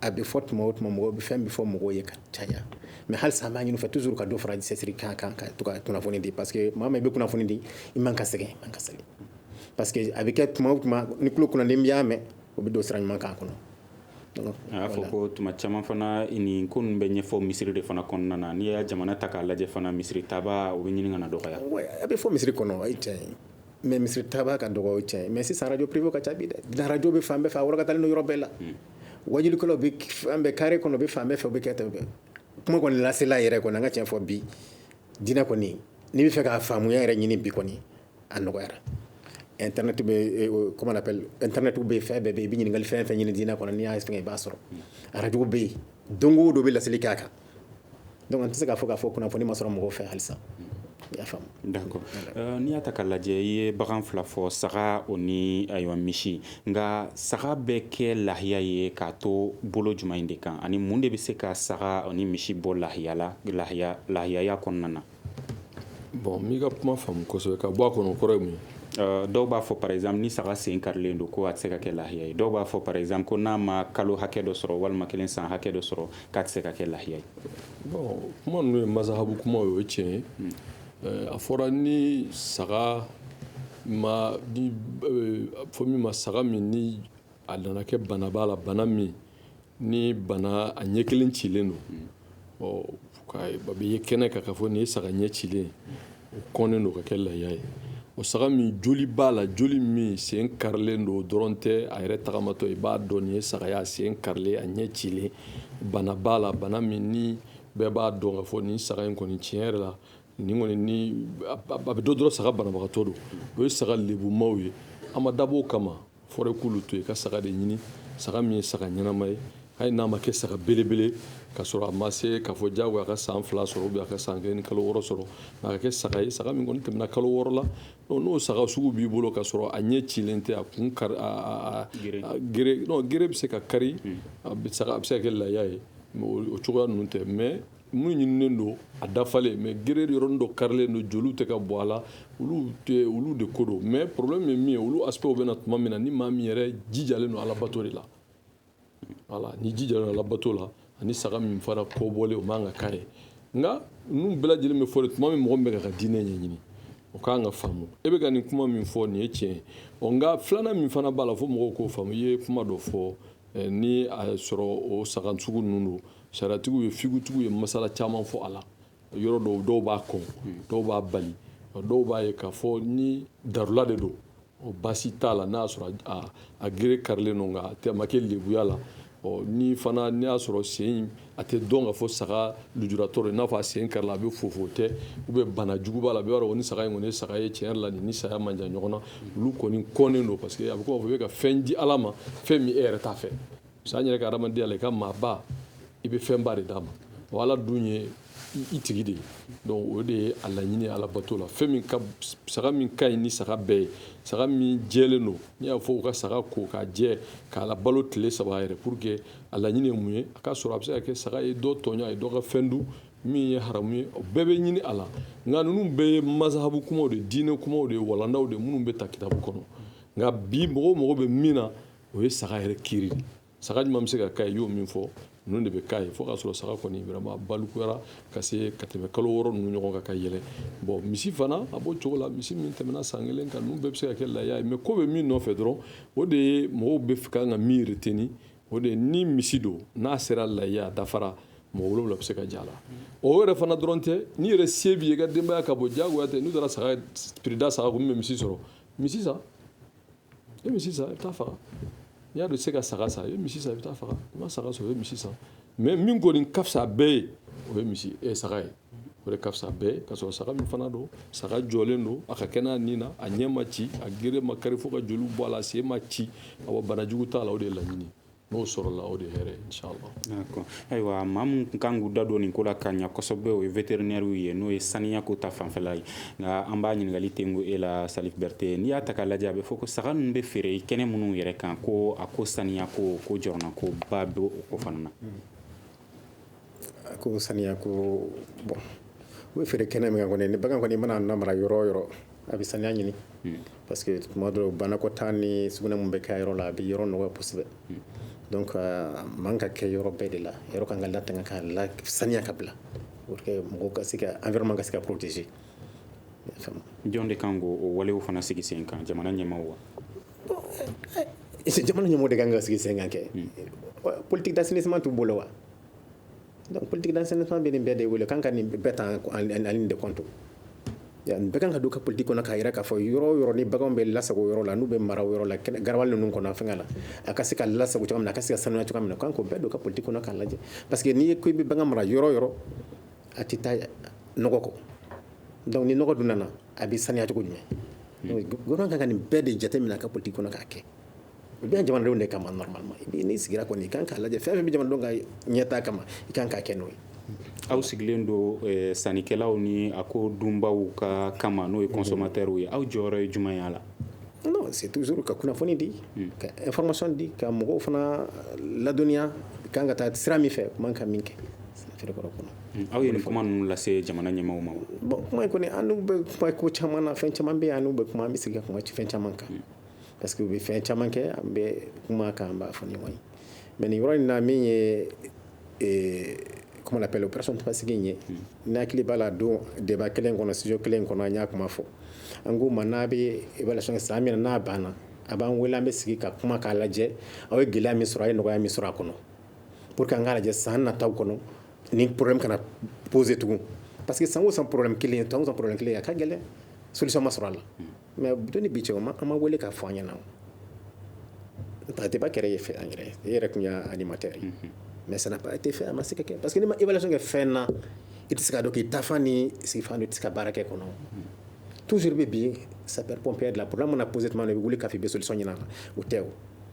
G: a bɛ fɔ tuma o tuma mɔgɔw bɛ fɛn bɛɛ fɔ mɔgɔw ye ka caya mais halisa an b'a ɲini u fɛ toujours ka dɔ fara cɛsiri kan ka to ka kunnafoni di parce que maa min bɛ kunnafoni di i man ka sɛgɛn i man ka sɛgɛn parce que a bɛ kɛ tuma o tuma ni tulo kunnandi min y'a mɛn o bɛ don sira ɲuman kan kɔnɔ a
E: y'a fɔ ko tuma caman fana nin ko bɛ ɲɛfɔ misiri de fana kɔnɔna na n'i y'a jamana ta k'a lajɛ fana misiri taabaa o bɛ ɲini ka na dɔgɔya a bɛ fɔ misiri kɔnɔ
G: o ye tiɲɛ ye mais misiri taabaa ka dɔgɔ tiɲɛ mais sisan radio privé ka ca bi dɛ radio bɛ fan bɛɛ fɛ a ka ni yɔrɔ bɛɛ la wajulikɛlaw bɛ fan bɛɛ carré kɔnɔ u bɛ fan bɛɛ fɛ u bɛ kɛ tan kuma kɔni lasela yɛrɛ kɔni an ka tiɲɛ fɔ bi dinɛ kɔni n'i bɛ fɛ k'a faamuya yɛrɛ ɲini bi kɔni a nɔgɔyara internet bɛ comment on appelle internet bɛ fɛn bɛɛ bɛ i bɛ ɲininkali fɛn fɛn ɲini dinɛ kɔnɔ n'i y'a fɛnkɛ i b'a sɔrɔ radio bɛ yen don o don bɛ laseli k'a kan donc an tɛ se k'a fɔ k'a fɔ kunnafoni ma sɔrɔ mɔgɔw fɛ halisa d'accord euh,
E: n'i y'a ta k'a lajɛ i ye bagan fila fɔ saga o ni ayiwa misi nka saga bɛ kɛ lahiya ye k'a to bolo jumɛn in de kan ani mun de bɛ se ka saga o ni misi bɔ lahiya la lahiya lahiyaya kɔnɔna na Bon
F: n m'i ka kuma faamu kosɛbɛ ka bɔ a kɔnɔ kɔrɔ ye mun ye dɔw b'a fɔ
E: par exemple ni saga sen karilen don ko a tɛ se ka kɛ lahiya ye dɔw b'a fɔ par exemple ko n'a ma kalo hakɛ dɔ sɔrɔ walima kelen san hakɛ dɔ sɔrɔ k'a tɛ se ka kɛ lahiya ye bon
F: kuma ninnu ye mazahabu kuma ye o ye tiɲɛ ye hmm. eh, a fɔra ni saga ma ni eh, fɔ min ma saga min ni a nana kɛ bana b'a la bana min ni bana a ɲɛ kelen cilen don a bɛ ye kɛnɛ kan ka fɔ nin ye saga ɲɛ cilen o kɔnnen don ka kɛ lahiya ye o saga min joli b'a la joli min sen karilen don dɔrɔn tɛ a yɛrɛ tagamatɔ i b'a dɔn nin ye saga ye a sen karilen a ɲɛ cilen bana b'a la bana min ni bɛɛ b'a dɔn ka fɔ nin saga in kɔni tiɲɛ yɛrɛ la nin kɔni ni a bɛ dɔ dɔrɔn saga banabagatɔ don o ye saga lebumaw ye an ma dabɔ o kama fɔrɛ k'olu to yen ka saga de ɲini saga min ye saga ɲɛnama ye hali n'a ma kɛ saga belebele ka sɔrɔ a ma se k'a fɔ jagoya a ka san fila sɔrɔ ou bien a ka san kelen ni kalo wɔɔrɔ sɔrɔ nka a ka kɛ saga ye saga min kɔni tɛmɛna kalo wɔɔrɔ la n'o saga sugu b'i bolo ka sɔrɔ a ɲɛ cilen tɛ a kun kari a gere non gere bɛ se ka kari a bɛ se ka kɛ lahiya ye o cogoya ninnu tɛ mais Mun ɲininen don a dafalen mais gere yɔrɔnin dɔ karilen don joli tɛ ka bɔ a la olu de ko don mais problème ye min ye olu aspect bɛ na tuma min na ni maa min yɛrɛ jijalen don alabato de la voilà n'i jijalen don alabato la ani saga min fana kɔbɔlen o man kan ka k'a ye nka ninnu bɛɛ lajɛlen bɛ fɔ tuma min mɔgɔ min bɛ ka diinɛ ɲɛɲini o kan ka faamu e bɛ ka nin kuma min fɔ nin ye tiɲɛ ye nka filanan min fana b'a la fo mɔgɔw k'o faamu i ye kuma dɔ fɔ eh, ni a sɔrɔ o saga sugu ninnu don Sariyatigiw ye figutigiw ye masala caman fɔ a la yɔrɔ dɔw dɔw b'a kɔn dɔw b'a bali dɔw b'a ye k'a fɔ ni darula de don o baasi t'a la n'a y'a sɔrɔ a gere karilen don nka a ma kɛ lebuya la ɔ ni fana n'i y'a sɔrɔ sen a tɛ dɔn k'a fɔ saga lujuratɔ n'a fɔ a sen karila a bɛ fofo tɛ ou bien bana jugu b'a la bɛɛ b'a dɔn nin saga in kɔni ye saga ye tiɲɛ la nin ni saya man jan ɲɔgɔn na olu kɔni kɔnnen don parce que a bɛ k'a fɔ i bɛ ka fɛn di ala ma fɛn min e yɛrɛ t'a fɛ an yɛrɛ ka adamadenya la i ka maaba i bɛ fɛnba de d'a ma wa ala dun ye i tigi de ye donc o de ye a laɲini ala bato la fɛn min ka saga min ka ɲi ni saga bɛɛ ye saga min jɛlen don n'i y'a fɔ u ka saga ko k'a jɛ k'a labalo tile saba yɛrɛ pour que a laɲini ye mun ye a ka sɔrɔ a bɛ se ka kɛ saga ye dɔ tɔɲɔ a ye dɔ ka fɛn dun min ye haramu ye o bɛɛ bɛ ɲini a la nka ninnu bɛɛ ye mazahabu kumaw de diinɛ kumaw de ye walandaw de minnu bɛ ta kitabu kɔnɔ nka bi mɔgɔw mago bɛ min na o ye saga yɛrɛ critère saga ɲuman bɛ se ka k'a ye i y'o min fɔ ninnu de bɛ k'a ye fo k'a sɔrɔ saga kɔni vraiment balikuyara ka se ka tɛmɛ kalo wɔɔrɔ ninnu ɲɔgɔn kan ka yɛlɛ bon misi fana a b'o cogo la misi min tɛmɛna san kelen kan ninnu bɛɛ bɛ se ka kɛ lahiya ye mais ko bɛ min nɔfɛ dɔrɔn o de ye mɔgɔ bɛɛ ka kan ka min retenir o de ye ni misi don n'a sera lahiya a dafara mɔgɔ wolonwula bɛ se ka j'a la o yɛrɛ fana dɔrɔn tɛ n'i yɛrɛ se b'i ye i ka denbaya ka bon diyagoya tɛ n'i taara saga prix da saga kun min bɛ misi sɔrɔ misi san i bɛ misi san i bɛ taa faga n'i y'a dɔn i tɛ se ka saga san i bɛ misi san i bɛ taa faga i ma saga sɔrɔ i bɛ misi san mais min kɔni ka fisa bɛɛ ye o ye misi eh saga ye o de ka fisa bɛɛ ye ka sɔrɔ saga min fana don saga jɔlen don a ka kɛnɛ ani n'a ɲɛ ma ci a gere ma kari fo ka joli bɔ a la a sen ma ci awa banajugu t'a la o de ye laɲini n'o sɔrɔla o de ye hɛrɛ inshallah d'accord
E: ayiwa maa minnu kan k'u da don nin ko la ka ɲa kosɛbɛ o ye vétérinairew ye n'o ye saniya ko ta fanfɛla ye nka an b'a ɲininkali tengu e la Salif Berete n'i y'a ta k'a lajɛ a bɛ fɔ ko saga ninnu bɛ feere kɛnɛ minnu yɛrɛ kan ko a ko saniya ko ko jɔrɔna ko ba bɛ o ko fana na
G: A ko saniya ko bon u bɛ feere kɛnɛ min kan kɔni ni bagan kɔni mana na mara yɔrɔ o yɔrɔ a bɛ saniya ɲini parce que tuma dɔ banakɔtaa ni sugunɛ minnu bɛ kɛ yɔrɔ la a bɛ yɔrɔ nɔgɔya kosɛbɛ donc a man ka kɛ yɔrɔ bɛɛ de la yɔrɔ kan ka latanga ka lasaniya ka bila pour que mɔgɔw ka se ka environnement ka se ka
E: protéger jɔn de kan k'o walew fana sigi sen kan jamana ɲɛmaaw wa
G: jamana ɲɛmaaw de kan ka sigi sen kan kɛ politique d'assainissement t'u bolo wa donc politique d'assainissement bɛ nin bɛɛ de wele kan ka nin bɛɛ ta en ligne de compte nin bɛɛ kan ka don ka politique kɔnɔ k'a yira k'a fɔ yɔrɔ o yɔrɔ ni baganw bɛ lasago yɔrɔ la n'u bɛ mara yɔrɔ la garabali ninnu kɔnɔ fɛngɛ la a ka se ka lasago cogoya min na a ka se ka sanuya cogoya min na kan k'o bɛɛ don ka politique kɔnɔ k'a lajɛ parce que n'i ye ko i bɛ bagan mara yɔrɔ o yɔrɔ a tɛ taa nɔgɔ kɔ donc ni nɔgɔ dun nana a bɛ saniya cogo jumɛn gouvernement kan ka nin bɛɛ de jateminɛ a ka politique kɔnɔ k'a kɛ u bɛ yan jamanadenw de kama normalement n'i sigira kɔni i kan k'a lajɛ fɛn o fɛn bɛ jamanadenw ka ɲɛtaa kama i kan k'a kɛ n'o ye aw sigilen
E: don eh, sannikɛlaw ni a ko dunbaaw ka kama n'o ye consommateurw ye aw jɔyɔrɔ ye jumɛn y'a la non c'est
G: toujours ka kunnafoni di hmm. ka information di ka mɔgɔw fana ladɔnniya kan ka taa sira min fɛ man ka min kɛ feerekɛyɔrɔ kɔnɔ Aw ye nin kuma ninnu
E: lase jamana ɲɛmaaw ma wa bon kuma in kɔni
G: an bɛ kuma ko caman na fɛn caman bɛ yen an bɛ kuma an bɛ sigi ka kuma fɛn caman kan parce que u bɛ fɛn caman kɛ an bɛ kuma kan an b'a fɔ ɲɔgɔn ye mais nin yɔrɔ in na min ye comment on appelle opération Tabaski in ye n'i hakili b'a la don débat kelen kɔnɔ studio kelen kɔnɔ an y'a kuma fɔ an k'u ma n'a bɛ évaluation kɛ san min na n'a banna a b'an wele an bɛ sigi ka kuma k'a lajɛ aw ye gɛlɛya min sɔrɔ a ye nɔgɔya min sɔrɔ a kɔnɔ pour que an k'a lajɛ san nata kɔnɔ nin problème kana poser tugun parce que san o san problème kelen san o san problème kelen a ka gɛlɛn solution ma sɔrɔ a la mais don ni bi cɛ o ma an ma wele k'a fɔ an ɲɛna o débat kɛra ye fɛ an yɛrɛ e yɛrɛ tun y'a animateur ye mais ça n'a pas été fait a ma se ka kɛ parce que n'i ma évaluation kɛ fɛn na i tɛ se ka dɔn k'i taafan n'i seginfan dɔn i tɛ se ka baara kɛ kɔnɔ toujours i bɛ sapeur pompier de la problème mana poser tuma min na i bɛ wuli k'a fɔ i bɛ solution ɲini a la o tɛ o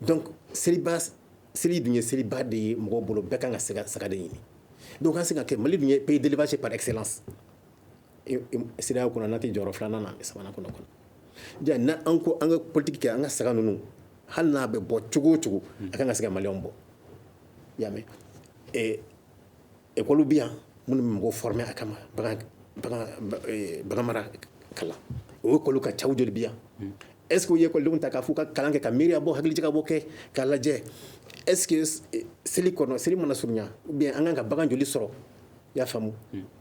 G: donc seliba seli dun ye seliba de ye mɔgɔw bolo bɛɛ kan ka se ka saga de ɲini donc a kan ka se ka kɛ Mali dun ye pays d'élevage par excellence CEDEAO kɔnɔ n'a tɛ jɔyɔrɔ filanan na sabanan kɔnɔ kɔnɔ ja na an ko an ka politique kɛ an ka saga ninnu hali n'a bɛ bɔ cogo o cogo a kan ka se ka maliyɛnw bɔ i y'a mɛn Écolew bɛ yan minnu bɛ mɔgɔw former a kama bagan mara kalan o école ka ca u joli bɛ yan est-ce qu'u ye écoledenw ta k'a fɔ u ka kalan kɛ ka miiriya bɔ hakilijakabɔ kɛ k'a lajɛ est-ce que seli kɔnɔ seli mana surunya ou bien an kan ka bagan joli sɔrɔ i y'a faamu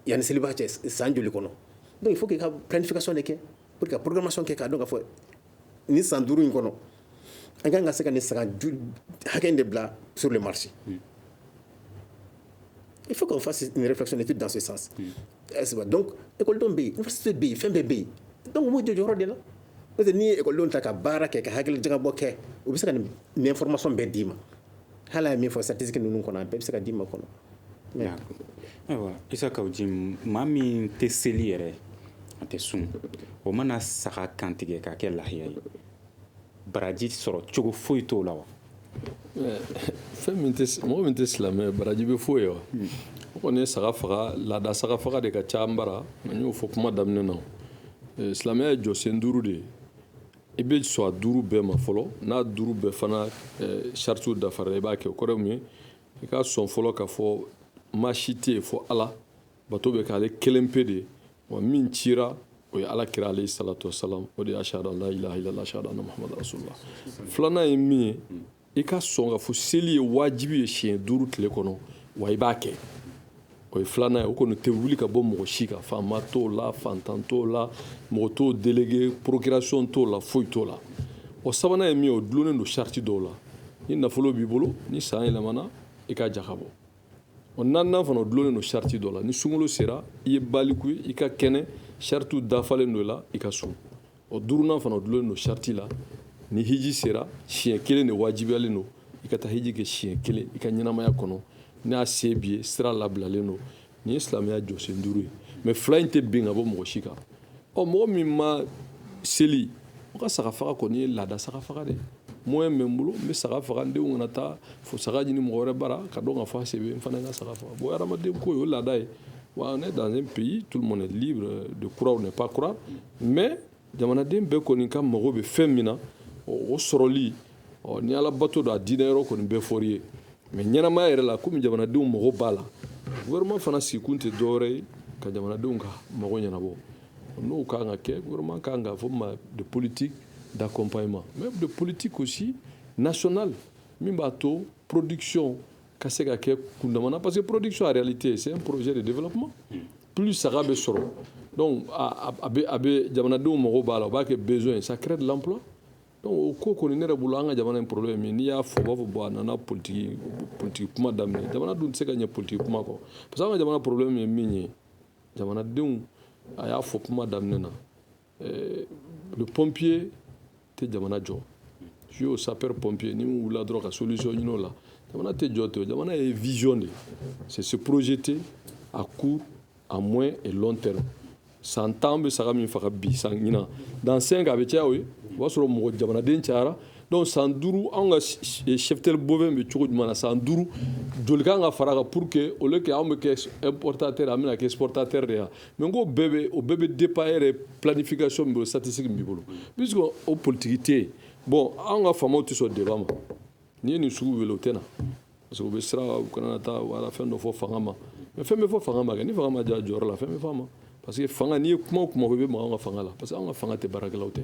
G: yanni seliba cɛ san joli kɔnɔ donc il faut qu'i ka planification de kɛ pour que ka programmation kɛ k'a dɔn k'a fɔ nin san duuru in kɔnɔ an ka kan ka se ka nin saga hakɛ de bila sur le marché il faut qu'on fasse une réflexion d'étude dans ce sens est-ce que donc école bɛ yen université bɛ yen fɛn bɛɛ bɛ yen donc u b'u jɔ jɔyɔrɔ de la parce que n'i ye école ta ka baara kɛ ka hakilijagabɔ kɛ u bɛ se ka nin information bɛɛ d'i ma hali a ye min fɔ statistique ninnu kɔnɔ a bɛɛ bɛ se ka d'i ma kɔnɔ ayiwa
E: isa kaw jim maa min tɛ seli yɛrɛ a tɛ sun o mana saga kantigɛ k'a kɛ lahiya ye baraji sɔrɔ cogo foyi t'o la
F: wa fɛn min mɔgɔ min tɛ silamɛ baraji bɛ foyi ye wa hmm. o kɔni ye saga faga laada saga faga de ka ca an bara an y'o fɔ kuma daminɛ na eh, silamɛya ye jɔsen duuru de ye i bɛ sɔn a duuru bɛɛ ma fɔlɔ n'a duuru bɛɛ fana eh, saritiw dafara i la i b'a kɛ o kɔrɔ ye mun ye i ka sɔn fɔlɔ ka fɔ maa si tɛ yen fo ala bato bɛ k'ale kelen pe de wa min cira o ye ala kira alayhi salatu wasalam o de ye ashhadu an la ilaha illallah ashhadu anna muhamadu rasulullah filanan ye min ye i ka sɔn ka fɔ seli ye wajibi ye siɲɛ duuru tile kɔnɔ wa i b'a kɛ o ye filanan ye o kɔni tɛ wuli ka bɔ mɔgɔ si kan faama t'o la fantan t'o la mɔgɔ t'o déléguer procuration t'o la foyi t'o la o sabanan ye min ye o dulonnen don sariti dɔw la ni nafolo b'i bolo ni san yɛlɛmana i ka jaka bɔ O naaninan fana o dulonnen don sariti dɔ la ni sunkalo sera i ye baliku ye i ka kɛnɛ saritiw dafalen don la i ka sun o duurunan fana o dulonnen don sariti la ni hiji sera siɲɛ kelen de wajibiyalen don i ka taa hiji kɛ siɲɛ kelen i ka ɲɛnamaya kɔnɔ n'a se b'i ye sira labilalen don nin ye silamɛya jɔsen duuru ye mais fila in tɛ bin ka bɔ mɔgɔ si kan ɔ mɔgɔ min ma seli o ka saga faga kɔni ye laada saga faga de moyen bɛ n bolo n bɛ saga faga n denw kana taa fo saga ɲini mɔgɔ wɛrɛ bara k'a dɔn ka fɔ a se bɛ n fana ka saga faga bon hadamaden ko ye o laada ye wa on est dans un pays tout le monde est libre de croire ou ne pas croire mais jamanaden bɛɛ kɔni ka mago bɛ fɛn min na o sɔrɔli ɔ ni ala bato don a diinɛ yɔrɔ kɔni bɛɛ fɔri ye mais ɲɛnamaya yɛrɛ la komi jamanadenw mago b'a la gouvernement fana sigikun tɛ dɔwɛrɛ ye ka jamanadenw ka mago ɲɛnabɔ n'o ka kan ka kɛ gouvernement ka kan ka fɔ ma de politique d'accompagnement mais de politique aussi nationale min b'a to production ka se ka kɛ kundama na parce que production en réalité c'est un projet de développement plus saga bɛ sɔrɔ donc a bɛ jamanadenw mago b'a la o b'a kɛ besoin ça crée de l'emploi o ko kɔni ne yɛrɛ bolo an ka jamana in problème min n'i y'a fɔ u b'a fɔ bon a nana politiki kuma daminɛ jamana dun tɛ se ka ɲɛ politiki kuma kɔ parce que an ka jamana problème ye min ye jamanadenw a y'a fɔ kuma daminɛ na eh, le pompier tɛ jamana jɔ jouer au sapeur pompier ni min wulila dɔrɔn ka solution ɲini o la jamana tɛ jɔ ten jamana ye vision de c'est se projeter à court à moyen et long terme san tan bɛ saga min faga bi san ɲinan dans 5 a bɛ caya o ye o b'a sɔrɔ mɔgɔ jamanaden cayara donc san duuru anw ka cheptel bovin bɛ cogo jumɛn na san duuru joli kan ka fara kan pour que au lieu que anw bɛ kɛ importateur an bɛna kɛ exportateur de ye mais n ko bɛɛ bɛ o bɛɛ bɛ dépend e yɛrɛ planification min bolo statistique min b'i bolo puisque o politiki tɛ yen bon anw ka faamaw tɛ sɔn débat ma n'i ye nin sugu wele o tɛ na parce que u bɛ siran u kana taa wala fɛn dɔ fɔ fanga ma mais fɛn bɛ fɔ fanga ma kɛ ni fanga ma diya jɔyɔrɔ la fɛn bɛ fɔ a ma parce que fanga n'i ye kuma o kuma i bɛ maga an ka fanga la parce que an ka fanga tɛ baarakɛlaw tɛ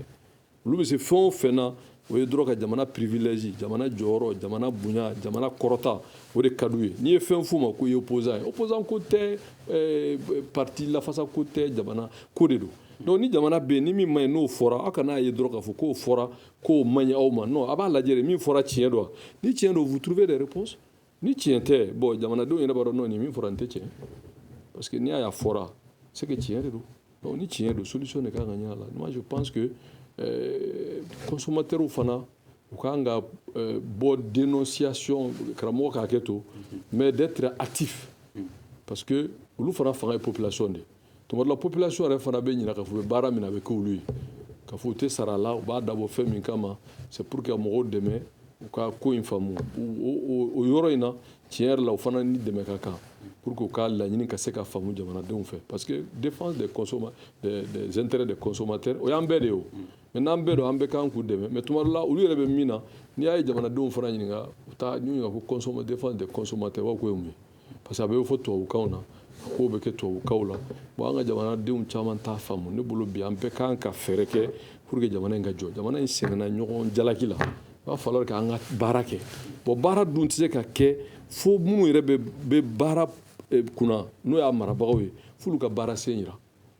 F: olu bɛ se fɛn o fɛn na o ye dɔrɔn ka jamana privilège jamana jɔyɔrɔ jamana bonya jamana kɔrɔta o de ka d'u ye n'i ye fɛn f'u ma k'u ye opposant ye opposant ko tɛ eh, parti lafasa ko tɛ jamana ko de don donc ni jamana bɛ yen ni min man ɲi n'o fɔra aw kana ye dɔrɔn k'a fɔ k'o fɔra k'o man ɲi aw ma non a b'a lajɛ de min fɔra tiɲɛ don ni tiɲɛ don vous trouvez des réponses ni tiɲɛ tɛ bon jamanadenw yɛrɛ b'a dɔn non nin min fɔra nin tɛ tiɲɛ parce que n'i y'a ye a fɔra c'est que tiɲɛ de don donc ni tiɲɛ don solution de kan ka ɲini a la moi je pense que euh, consommateurs fana u kan ka euh, bɔ dénonciation karamɔgɔ k'a kɛ to mais d'être actif parce que olu fana fanga ye population de ye tuma dɔ la population yɛrɛ fana bɛ ɲina k'a fɔ u bɛ baara min na a bɛ k'olu ye k'a fɔ u tɛ sara a la u b'a dabɔ fɛn min kama c'est pour que ka mɔgɔw dɛmɛ u ka ko in faamu o yɔrɔ in na tiɲɛ yɛrɛ la u fana ni dɛmɛ ka kan pour que u ka laɲini ka se ka faamu jamanadenw fɛ parce que défense des consomma des, des intérêts des consommateurs o y'an bɛɛ de ye o mais n'an bɛɛ don an bɛɛ kan k'u dɛmɛ mais tuma dɔ la olu yɛrɛ bɛ min na n'i y'a ye jamanadenw fana ɲininka u taa ɲininka ko défense des consommateurs u b'a fɔ k'o ye mun ye parce que a bɛ fɔ tubabukanw na a kow bɛ kɛ tubabukanw la bon an ka jamanadenw caman t'a faamu ne bolo bi an bɛɛ kan ka fɛɛrɛ kɛ pour que jamana in ka jɔ jamana in sɛgɛnna ɲɔgɔn jalaki la il va falloir k'an ka baara kɛ bon baara dun tɛ se ka kɛ fo minnu yɛrɛ bɛ baara eh, kunna n'o y'a marabagaw ye f'olu ka baara sen yira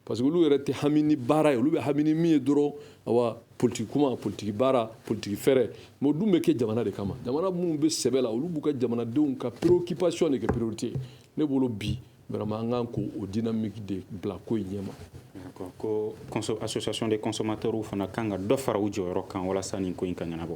F: Parce que olu yɛrɛ tɛ hami ni baara ye olu bɛ hami ni min ye dɔrɔn awa politiki kuma politiki baara politiki fɛɛrɛ mais o dun bɛ kɛ jamana de kama jamana minnu bɛ sɛbɛ la olu b'u ka jamanadenw ka préoccupation de kɛ priorité ye ne bolo bi vraiment an kan k'o dynamique de bila ko in ɲɛma ko
E: association des consommateurs fana kan ka dɔ fara u jɔyɔrɔ kan walasa nin ko in ka ɲɛnabɔ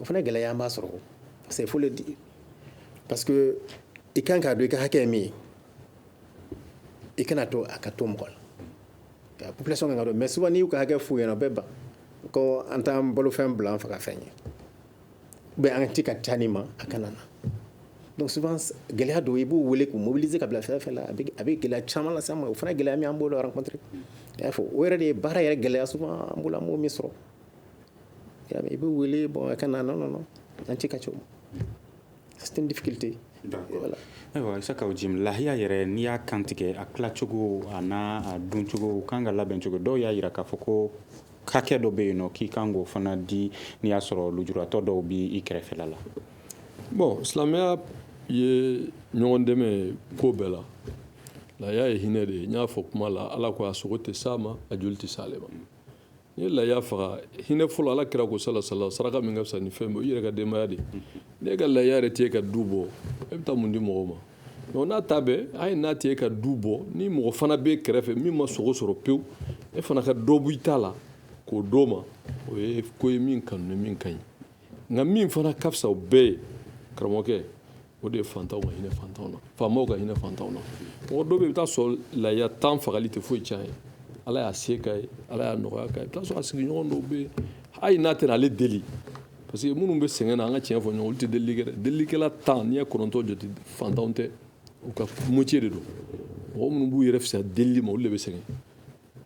G: o fana gɛlɛya b'a sɔrɔ il faut le dire parce que i kan k'a dɔn i ka hakɛ ye min ye i kana to a ka to mɔgɔ la ka population kan k'a dɔn mais souvent n'i y'u ka hakɛ f'u ɲɛna u bɛ ban ko an t'an balofɛn bila an fagafɛn ye ou bien an ti ka ca nin ma a kana na donc souvent gɛlɛya don i b'u wele k'u mobiliser ka bila fɛn fɛn la a bɛ gɛlɛya caman lase an ma o fana gɛlɛya min an b'olu rencontrer i y'a fɔ o yɛrɛ de ye baara yɛrɛ gɛlɛya souvent an bolo an b'o min sɔrɔ I bɛ wele bɔn ka na nɔnɔ an tɛ ka cogo
E: difficulté ayiwa Isaka Jim lahiya yɛrɛ n'i y'a kantigɛ a tilacogo ani a duncogo kan ka labɛncogo dɔw y'a jira k'a fɔ ko hakɛ dɔ bɛ yen nɔ k'i kan k'o fana di n'i y'a sɔrɔ lujuratɔ dɔw bɛ i kɛrɛfɛla la
F: bɔn silamɛya ye ɲɔgɔn dɛmɛ ko bɛɛ la lahiya ye hinɛ de ye n y'a fɔ kuma la ala k ko a sogo tɛ s'a ma a joli tɛ se ale ma N'i ye lahiya faga hinɛ fɔlɔ ala kira ko sala sala saraka min ka fisa ni fɛn bɛɛ i yɛrɛ ka denbaya de n'e ka lahiya yɛrɛ t'e ka du bɔ e bɛ taa mun di mɔgɔ ma n'a ta bɛɛ a ye n'a tɛ e ka du bɔ ni mɔgɔ fana b'e kɛrɛfɛ min ma sogo sɔrɔ pewu e fana ka dɔ bɔ i ta la k'o d'o ma o ye ko ye min kanu ni min ka ɲi nka min fana ka fisa bɛɛ ye karamɔgɔkɛ o de ye fantanw ka hinɛ fantanw na faamaw ka hinɛ fantanw na mɔgɔ dɔw bɛ yen i bɛ taa sɔrɔ lahiya tan fagali tɛ foyi tiɲɛ a ye ala y'a se k'a ye ala y'a nɔgɔya k'a ye i bɛ taa sɔrɔ a sigiɲɔgɔn dɔw bɛ yen hali n'a tɛ ale deli parce que minnu bɛ sɛgɛn na an ka tiɲɛ fɔ ɲɔgɔn olu tɛ delili kɛ delilikɛla tan n'i ye kɔnɔntɔn jate fantanw tɛ u ka métier de don mɔgɔ minnu b'u yɛrɛ fisaya delili ma olu de bɛ sɛgɛn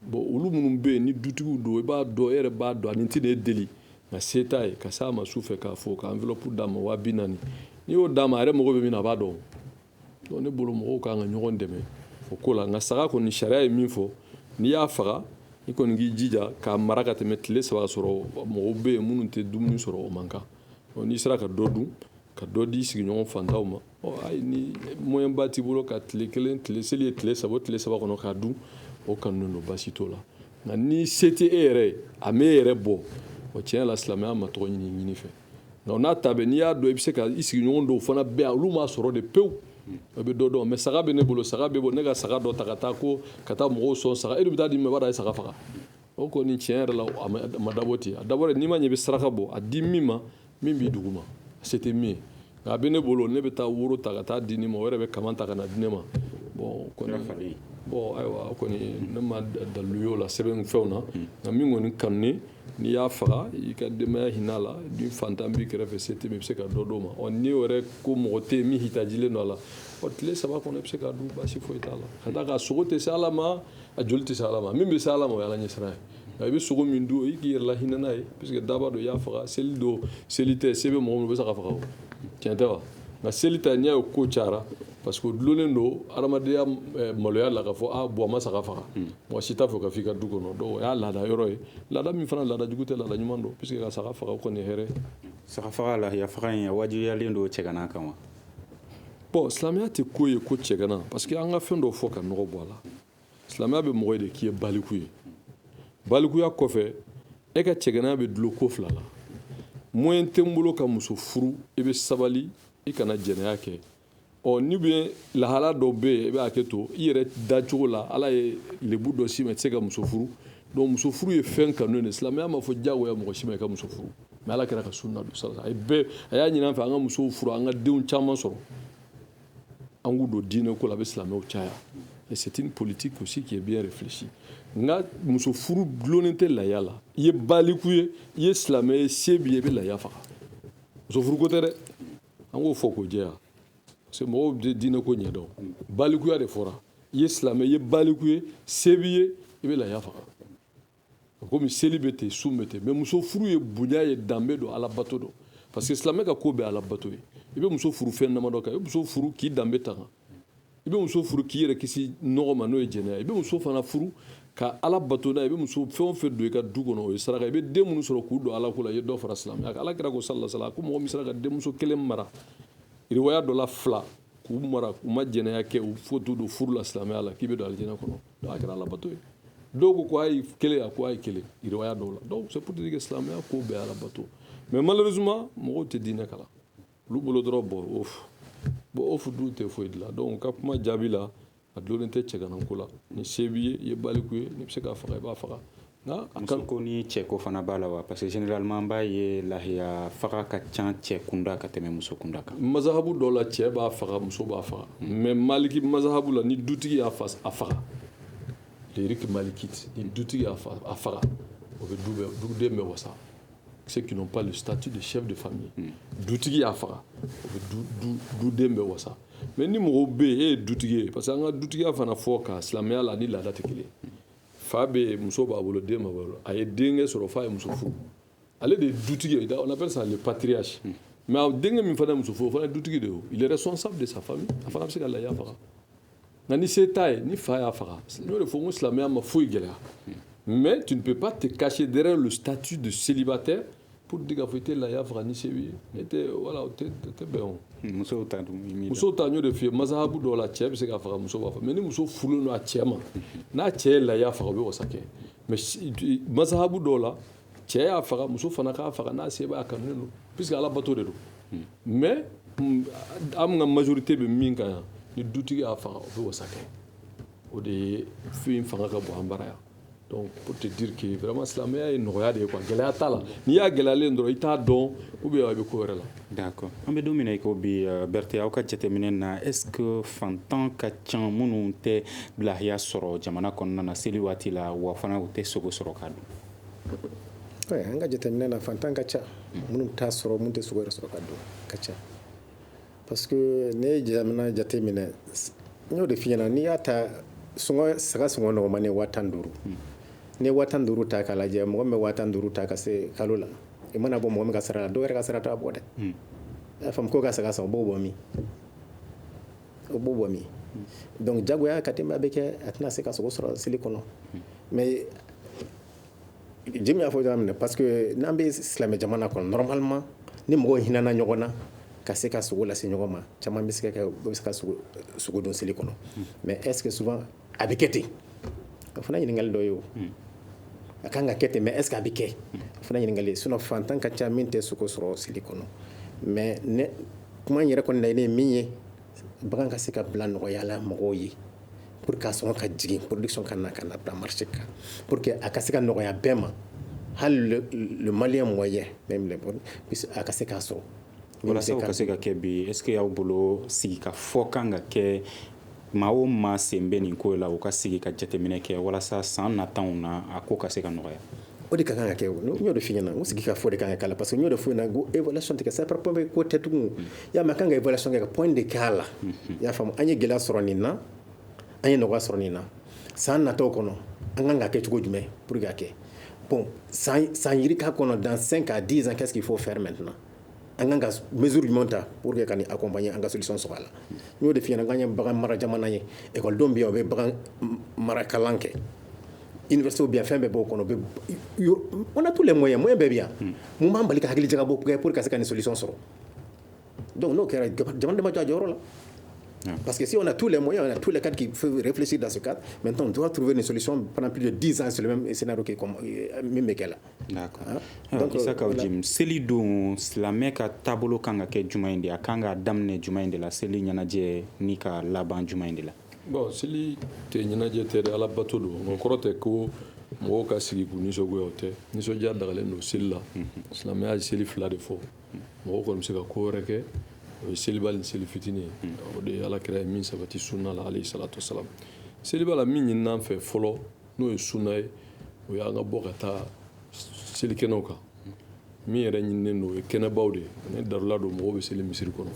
F: bon olu minnu bɛ yen ni dutigiw don i b'a dɔn e yɛrɛ b'a dɔn ani tɛ de deli nka se t'a ye ka s'a ma su fɛ k'a fɔ ka enveloppe d'a ma waa bi naani n'i y'o d'a ma a yɛrɛ mago bɛ min na a b'a dɔn donc ne bolo mɔgɔw ka kan ka ɲɔgɔn dɛmɛ o ko la nka saga kɔni sariya ye min fɔ n'i y'a faga i kɔni k'i jija k'a mara ka tɛmɛ tile saba sɔrɔ mɔgɔw bɛ yen minnu tɛ dumuni sɔrɔ o man kan n'i sera ka dɔ dun ka dɔ di sigiɲɔgɔn fantanw ma ɔ ayi ni moyɛnba t'i bolo ka tile kelen tile seli ye tile saba o tile saba kɔnɔ k'a dun o kanunen don baasi t'o la nka ni se tɛ e yɛrɛ ye a m'e yɛrɛ bɔ o tiɲɛ la silamɛya ma tɔgɔ ɲini ɲini fɛ nka o n'a ta bɛɛ n'i y'a dɔn i bɛ se ka i sigiɲɔgɔn dɔw fana bɛ yan olu m'a sɔrɔ de pewu o bɛ dɔ dun mais saga bɛ ne bolo saga b'e bolo ne ka saga dɔ ta ka taa ko ka taa mɔgɔw sɔn saga e de bɛ taa di min ma i b'a dɔn a ye saga faga o kɔni tiɲɛ yɛrɛ la a ma dabɔ ten a dabɔ n'i ma ɲɛ i bɛ saraka bɔ a di min ma min b'i dugu ma se tɛ min ye nka a bɛ ne bolo ne bɛ taa woro ta ka taa di nin ma o yɛrɛ bɛ kaman ta ka na di ne ma bɔn kɔni bɔn ayiwa kɔni ne ma dalu y'o la sɛbɛn fɛnw na hmm. nka min kɔni kanunen n'i y'a faga i ka denbaya hinɛ la ni fantan b'i kɛrɛfɛ se tɛ min i bɛ se ka dɔ d'o ma ɔ n'i yɛrɛ ko mɔgɔ tɛ yen min hitajilen don a la ɔ tile saba kɔnɔ i bɛ se k'a dun baasi foyi t'a la ka d'a kan sogo tɛ se ala ma a joli tɛ se ala ma min bɛ se ala ma o y'ala ɲɛsiran ye nka i bɛ sogo min dun i k'i yɛrɛ lahinɛ n'a ye parce que daaba don i y'a faga seli don seli tɛ se bɛ mɔgɔ min o bɛ saga faga o tiɲɛ tɛ wa nka seli ta n'i y'a ye ko cayara parce que o dulonnen don adamadenya eh, maloya la k'a fɔ a ah, bɔn ma saga faga hmm. mɔgɔ si t'a fɛ k'a f'i ka du kɔnɔ donc o y'a laada yɔrɔ ye laada min fana laada jugu tɛ laada ɲuman don puisque ka saga faga o kɔni ye hɛrɛ saga faga
E: lahiya faga in a wajibiyalen don cɛgana kan wa bɔn
F: silamɛya tɛ ko ye ko cɛgana parce que an ka fɛn dɔ fɔ ka nɔgɔ bɔ a la silamɛya bɛ mɔgɔ de k'i ye baliku ye balikuya kɔfɛ e ka cɛganaya bɛ dulon ko fila la moyen tɛ n bolo ka muso furu i bɛ sabali i kana jɛnɛya kɛ ɔ ni bɛ lahala dɔ bɛ yen i bɛ hakɛ to i yɛrɛ dacogo la ala ye lebu dɔ s'i ma i tɛ se ka muso furu donc muso furu ye fɛn kanu de silamɛya m'a fɔ diyagoya mɔgɔ si ma i ka muso furu mais ala kira ka sunna don sara a ye bɛɛ a y'a ɲini an fɛ an ka musow furu an ka denw caman sɔrɔ an k'u don diinɛ ko la a bɛ silamɛw caya c'est une politique aussi qui est bien réfléchie nka muso furu dulonnen tɛ laya la i ye baliku ye i ye silamɛ ye se b'i ye i bɛ laya faga muso furu ko tɛ dɛ an k'o fɔ k'o jɛya parce que mɔgɔw bɛ diinɛ ko ɲɛdɔn balikuya de fɔra i ye silamɛ i ye baliku ye se b'i ye i bɛ laya faga komi seli bɛ ten sun bɛ ten mais muso furu ye bonya ye danbe don alabato don parce que silamɛ ka ko bɛɛ alabato ye i bɛ muso furu fɛn damadɔ kan i bɛ muso furu k'i danbe tanga i bɛ muso furu k'i yɛrɛ kisi nɔgɔ ma n'o ye jɛnɛya i bɛ muso fana furu ka ala bato n'o ye i bɛ muso fɛn o fɛn don i ka du kɔnɔ o ye saraka i bɛ den minnu sɔrɔ k'u don ala ko la i ye dɔ fara silamɛya kan ala kira ko salasala ko mɔgɔ min sera ka denmuso kelen mara riwaya dɔ la fila k'u mara u ma jɛnɛya kɛ u fo t'u don furu la silamɛya la k'i bɛ don alijɛnɛ kɔnɔ a kɛra alabato ye dɔw ko ko hali kelen a ko hali kelen riwaya dɔw la donc c'est pour dire que silamɛya ko bɛɛ alabato mais malheureusement mɔgɔw tɛ diinɛ kalan olu bolo dɔrɔn bɔn ofu bɔn ofu dun tɛ foyi dilan donc ka kuma jaabi la a dulonnen tɛ cɛgananko la ni se b'i ye i ye baliku ye n'i bɛ se k'a faga i b'a faga Muso
E: ko ni cɛ ko fana b'a la wa parce que généralement an b'a ye lahiya faga ka ca cɛ kunda ka tɛmɛ muso kunda kan. Mazahabu dɔ la cɛ
F: b'a faga muso b'a faga mais maliki mazahabu la ni dutigi y'a faga le rite malikite ni dutigi y'a faga o bɛ du bɛɛ duden bɛɛ wasa ceux qui n'ont pas le statut de chef de famille hmm. dutigi y'a faga o bɛ du du duden bɛɛ wasa mais ni mɔgɔw bɛ yen e ye dutigi ye parce que an ka dutigiya fana fɔkan silamɛya la ni laada tɛ kelen ye. fa bɛ yen muso b'a bolo den b'a bolo a ye denkɛ sɔrɔ fa ye muso furu ale de ye dutigi ye on appelle ça le patriarche hmm. mais a denkɛ min fana ye muso furu o fana ye dutigi de ye il est responsable de sa famille a fana bɛ se ka lahiya faga nka ni se t'a ye ni fa y'a faga n y'o de fɔ n ko silamɛya ma foyi gɛlɛya hmm. mais tu ne peux pas te cacher derrière le statut de célibataire hmm. pour dire k'a fɔ i tɛ lahiya faga ni se b'i ye ne tɛ voilà o tɛ o tɛ bɛn o musow ta dun
E: i m'i da musow ta n y'o de f'i
F: ye masahabu dɔw la cɛ bɛ se k'a faga muso b'a faga mais ni muso furulen don a cɛ ma n'a cɛ ye lahiya faga o bɛ wasa kɛ mais si- du- masahabu dɔw la cɛ y'a faga muso fana k'a faga n'a se b'a kanunen don puisque ala bato de don mais mm, an ka majorité bɛ min kan yan ni dutigi y'a faga o bɛ wasa kɛ o de ye fɛn min fanga ka bon an bara yan Donc pour te dire que vraiment silamɛya ye nɔgɔya de ye quoi gɛlɛya t'a la n'i y'a gɛlɛyalen dɔrɔn i t'a dɔn ou bien i bɛ ko wɛrɛ la. D'accord an bɛ don min
E: na i ko bi euh, Berthe aw ka jateminɛ na est ce que fantan ka ca minnu tɛ lahiya sɔrɔ jamana kɔnɔna na seli waati la wa fana u tɛ sogo sɔrɔ ka dun. Ouais, an ka jateminɛ
G: na fantan ka ca minnu t'a sɔrɔ minnu tɛ sogo yɛrɛ sɔrɔ ka dun ka ca. Parce que ne ye jamana jateminɛ n y'o de f'i ɲɛna n'i y'a ta saga sɔngɔ nɔgɔman ye waa tan duuru n'i ye waa tan duuru ta k'a lajɛ mɔgɔ min bɛ waa tan duuru ta ka se kalo la i mana bɔ mɔgɔ min ka sara la dɔw yɛrɛ ka sara t'a bɔ dɛ i y'a faamu ko ka saga san o b'o bɔ min o b'o bɔ min donc jagoya ka denbaya bɛ kɛ a tɛna se ka sogo sɔrɔ seli kɔnɔ mais Jim y'a fɔ yɔrɔ min na parce que n'an bɛ silamɛ jamana kɔnɔ normalement ni mɔgɔw hinɛna ɲɔgɔn na ka se ka sogo lase ɲɔgɔn ma caman bɛ se ka sogo dun seli kɔnɔ mais est ce que souvent a bɛ kɛ ten o fana ɲininkali dɔ ye o a ka kan ka kɛ ten mais est ce que a bɛ kɛ o fana ɲininkali sinon fantan ka ca min tɛ sogo sɔrɔ seli kɔnɔ mais kuma yɛrɛ kɔni laɲini ye min ye bagan ka se ka bila nɔgɔya la mɔgɔw ye pour que a sɔngɔ ka jigin production ka na ka na bila marché kan pour que a ka se ka nɔgɔya bɛɛ ma hali le, le malien moyen même le bon a ka se k'a sɔrɔ walasa
E: ka se ka kɛ bi est ce que y'aw bolo sigi ka fɔ kan ka kɛ maa o maa sen bɛ nin ko la u ka sigi ka jateminɛ kɛ walasa san nataw na a ko ka se ka nɔgɔya o de ka kan ka
G: kɛ n y'o de f'i ɲɛna sigi ka fɔ de ka kan ka k'a la parce que n y'o de f'i ɲɛna ko évaluation tɛ sa ko tɛ tugun y'a mɛn an kan ka évaluation kɛ ka point de k'a la i y'a faamu an ye gɛlɛya sɔrɔ nin na an ye nɔgɔya sɔrɔ nin na san nataw kɔnɔ an kan ka kɛ cogo jumɛn pour que a kɛ bon san yirika kɔnɔ dans cinq à dix ans qu'est-ce qu'il faut faire maintenant an kan ka mesure jumɛn ta pour que ka nin accompagner an ka solution sɔrɔ a la n y'o de f'i ɲɛna k'an ye bagan mara jamana ye ekɔlidenw bɛ yan u bɛ bagan mara kalan kɛ université bɛ yan fɛn bɛɛ b'o kɔnɔ bɛ on a tous les moyens moyen bɛɛ bɛ yan hmm. mun b'an bali ka hakili jagabɔ kɛ pour ka se ka nin solution sɔrɔ donc n'o kɛra jamana de ma jɔ a jɔyɔrɔ la hmm. Parce que si on a tous les moyens, on a tous les cadres qui peuvent réfléchir dans ce cadre, maintenant on doit trouver une solution pendant plus de 10 ans sur le même scénario qui est comme, euh, même là.
E: Isaka Jim seli don silamɛ ka taabolo kan ka kɛ jumɛn in de a kan ka daminɛ jumɛn in de la seli ɲɛnajɛ ni ka laban jumɛn in de la bon seli
F: tɛ ɲɛnajɛ tɛ dɛ ala bato don o kɔrɔ tɛ ko mɔgɔw ka sigi k'u nisɔngoya o tɛ nisɔndiya dagalen don seli la silamɛya ye seli fila de fɔ mɔgɔ kɔni bɛ se ka ko wɛrɛ kɛ o ye seliba ni seli fitinin ye o de alakira ye min sabati sunna la alayhi salatu wasalam seliba la min ɲinina an fɛ fɔlɔ n'o ye suna ye o y'an ka bɔ ka taa selikɛnɛw kan min yɛrɛ ɲininen don o ye kɛnɛbaw de ye ni darula don mɔgɔw bɛ seli misiri kɔnɔ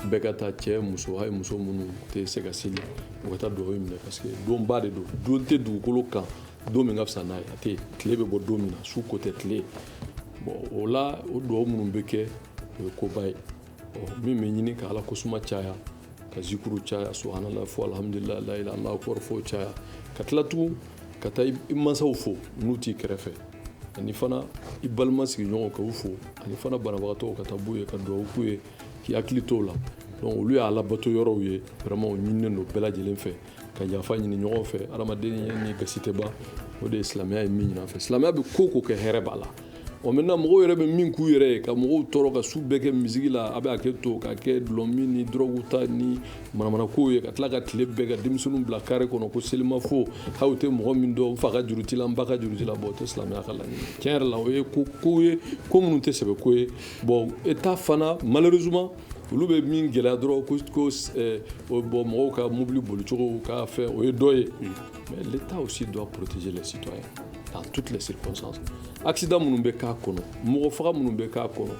F: bɛɛ ka taa cɛ muso hali muso minnu tɛ se ka seli u ka taa dugawu minɛ parce que donba de don don tɛ dugukolo kan don min ka fisa n'a ye a tɛ tile bɛ bɔ don min na su ko tɛ tile bɔn o la o dugawu minnu bɛ kɛ o ye koba ye min bɛ ɲini ka ala kosuma caya ka zikuru caya subhanallah fɔ alhamdulillahi allahu akbar fɔ caya ka tila tugun ka taa i mansaw fo n'u t'i kɛrɛfɛ ani fana i balima sigiɲɔgɔnw ka u fo ani fana banabagatɔw ka taa bɔ u ye ka dugawu k'u ye k'i hakili t'o la donc olu ye alabato yɔrɔw ye vraiment o ɲininen don bɛɛ lajɛlen fɛ ka yafa ɲini ɲɔgɔn fɛ adamaden ni gasi tɛ ban o de ye silamɛya ye min ɲini an fɛ silamɛya bɛ ko ko kɛ hɛrɛ b'a la o maintenant mɔgɔw yɛrɛ bɛ min k'u yɛrɛ ye ka mɔgɔw tɔɔrɔ ka su bɛɛ kɛ musique la a bɛ hakɛ to ka kɛ dɔlɔmin ni dɔrɔgu ta ni manamanakow ye ka tila ka tile bɛɛ ka denmisɛnninw bila kare kɔnɔ ko selimafo hali u tɛ mɔgɔ min dɔn n fa ka juru t'i la n ba ka juru t'i la bɔn o tɛ silamɛya ka laɲini tiɲɛ yɛrɛ la o ye ko ko ye ko minnu tɛ sɛbɛ ko ye bɔn état fana malheureusement olu bɛ min gɛlɛya dɔrɔn ko ko eh, bɔn mɔgɔw ka mobili bolicogo ka fɛn o ye dɔ ye hmm. mais l'état aussi doit protéger les citoyens dans toutes les circonstances accident minnu bɛ k'a kɔnɔ mɔgɔ faga minnu bɛ k'a kɔnɔ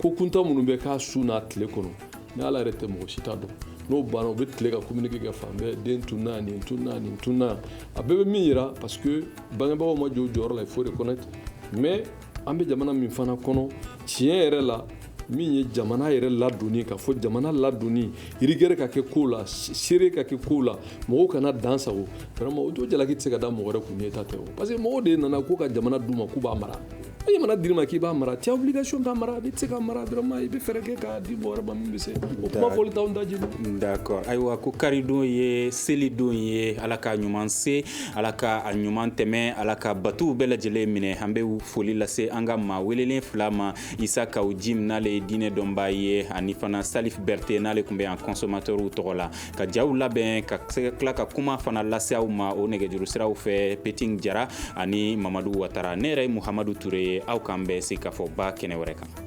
F: ko kuntan minnu bɛ k'a su n'a tile kɔnɔ ni ala yɛrɛ tɛ mɔgɔ si t'a dɔn n'o banna u bɛ tila ka communiqué kɛ fan bɛɛ den tunna nin tunna nin tunna a bɛɛ bɛ min yira parce que bangebagaw ma jɔ u jɔyɔrɔ la il faut reconnaître mais an bɛ jamana min fana kɔnɔ tiɲɛ yɛrɛ la min ye jamana yɛrɛ ladonni ka fɔ jamana ladonni rigueur ka kɛ ko la sérieux ka kɛ ko la mɔgɔw kana dansagon vraiment o jo jalaki tɛ se ka da mɔgɔ wɛrɛ kun n'état tɛ o parce que mɔgɔw de nana ko ka jamana d'u ma k'u b'a mara ni jamana dir'i ma k'i b'a mara t'as obligation k'a mara n'i tɛ se k'a mara vraiment i bɛ fɛɛrɛ kɛ k'a di mɔgɔ wɛrɛ ma min bɛ se o kuma fɔli t'anw daji d'accord ayiwa ko
E: karidon ye selidon ye ala ka ɲuman se Ala ka a ɲuman tɛmɛ ala ka batow bɛɛ lajɛlen minɛ an bɛ foli lase an ka maa welelen fila ma isa kaw jim n'ale ye diinɛ dɔnbaa ye ani fana salif berete n'ale tun bɛ yan consommateurw tɔgɔ la ka jaw labɛn ka se ka tila ka kuma fana lase aw ma o nɛgɛjuru siraw fɛ peting jara ani mamadu watara ne yɛrɛ ye muhamadu toure ye aw k'an bɛn se k ka fɔ ba kɛnɛ wɛrɛ kan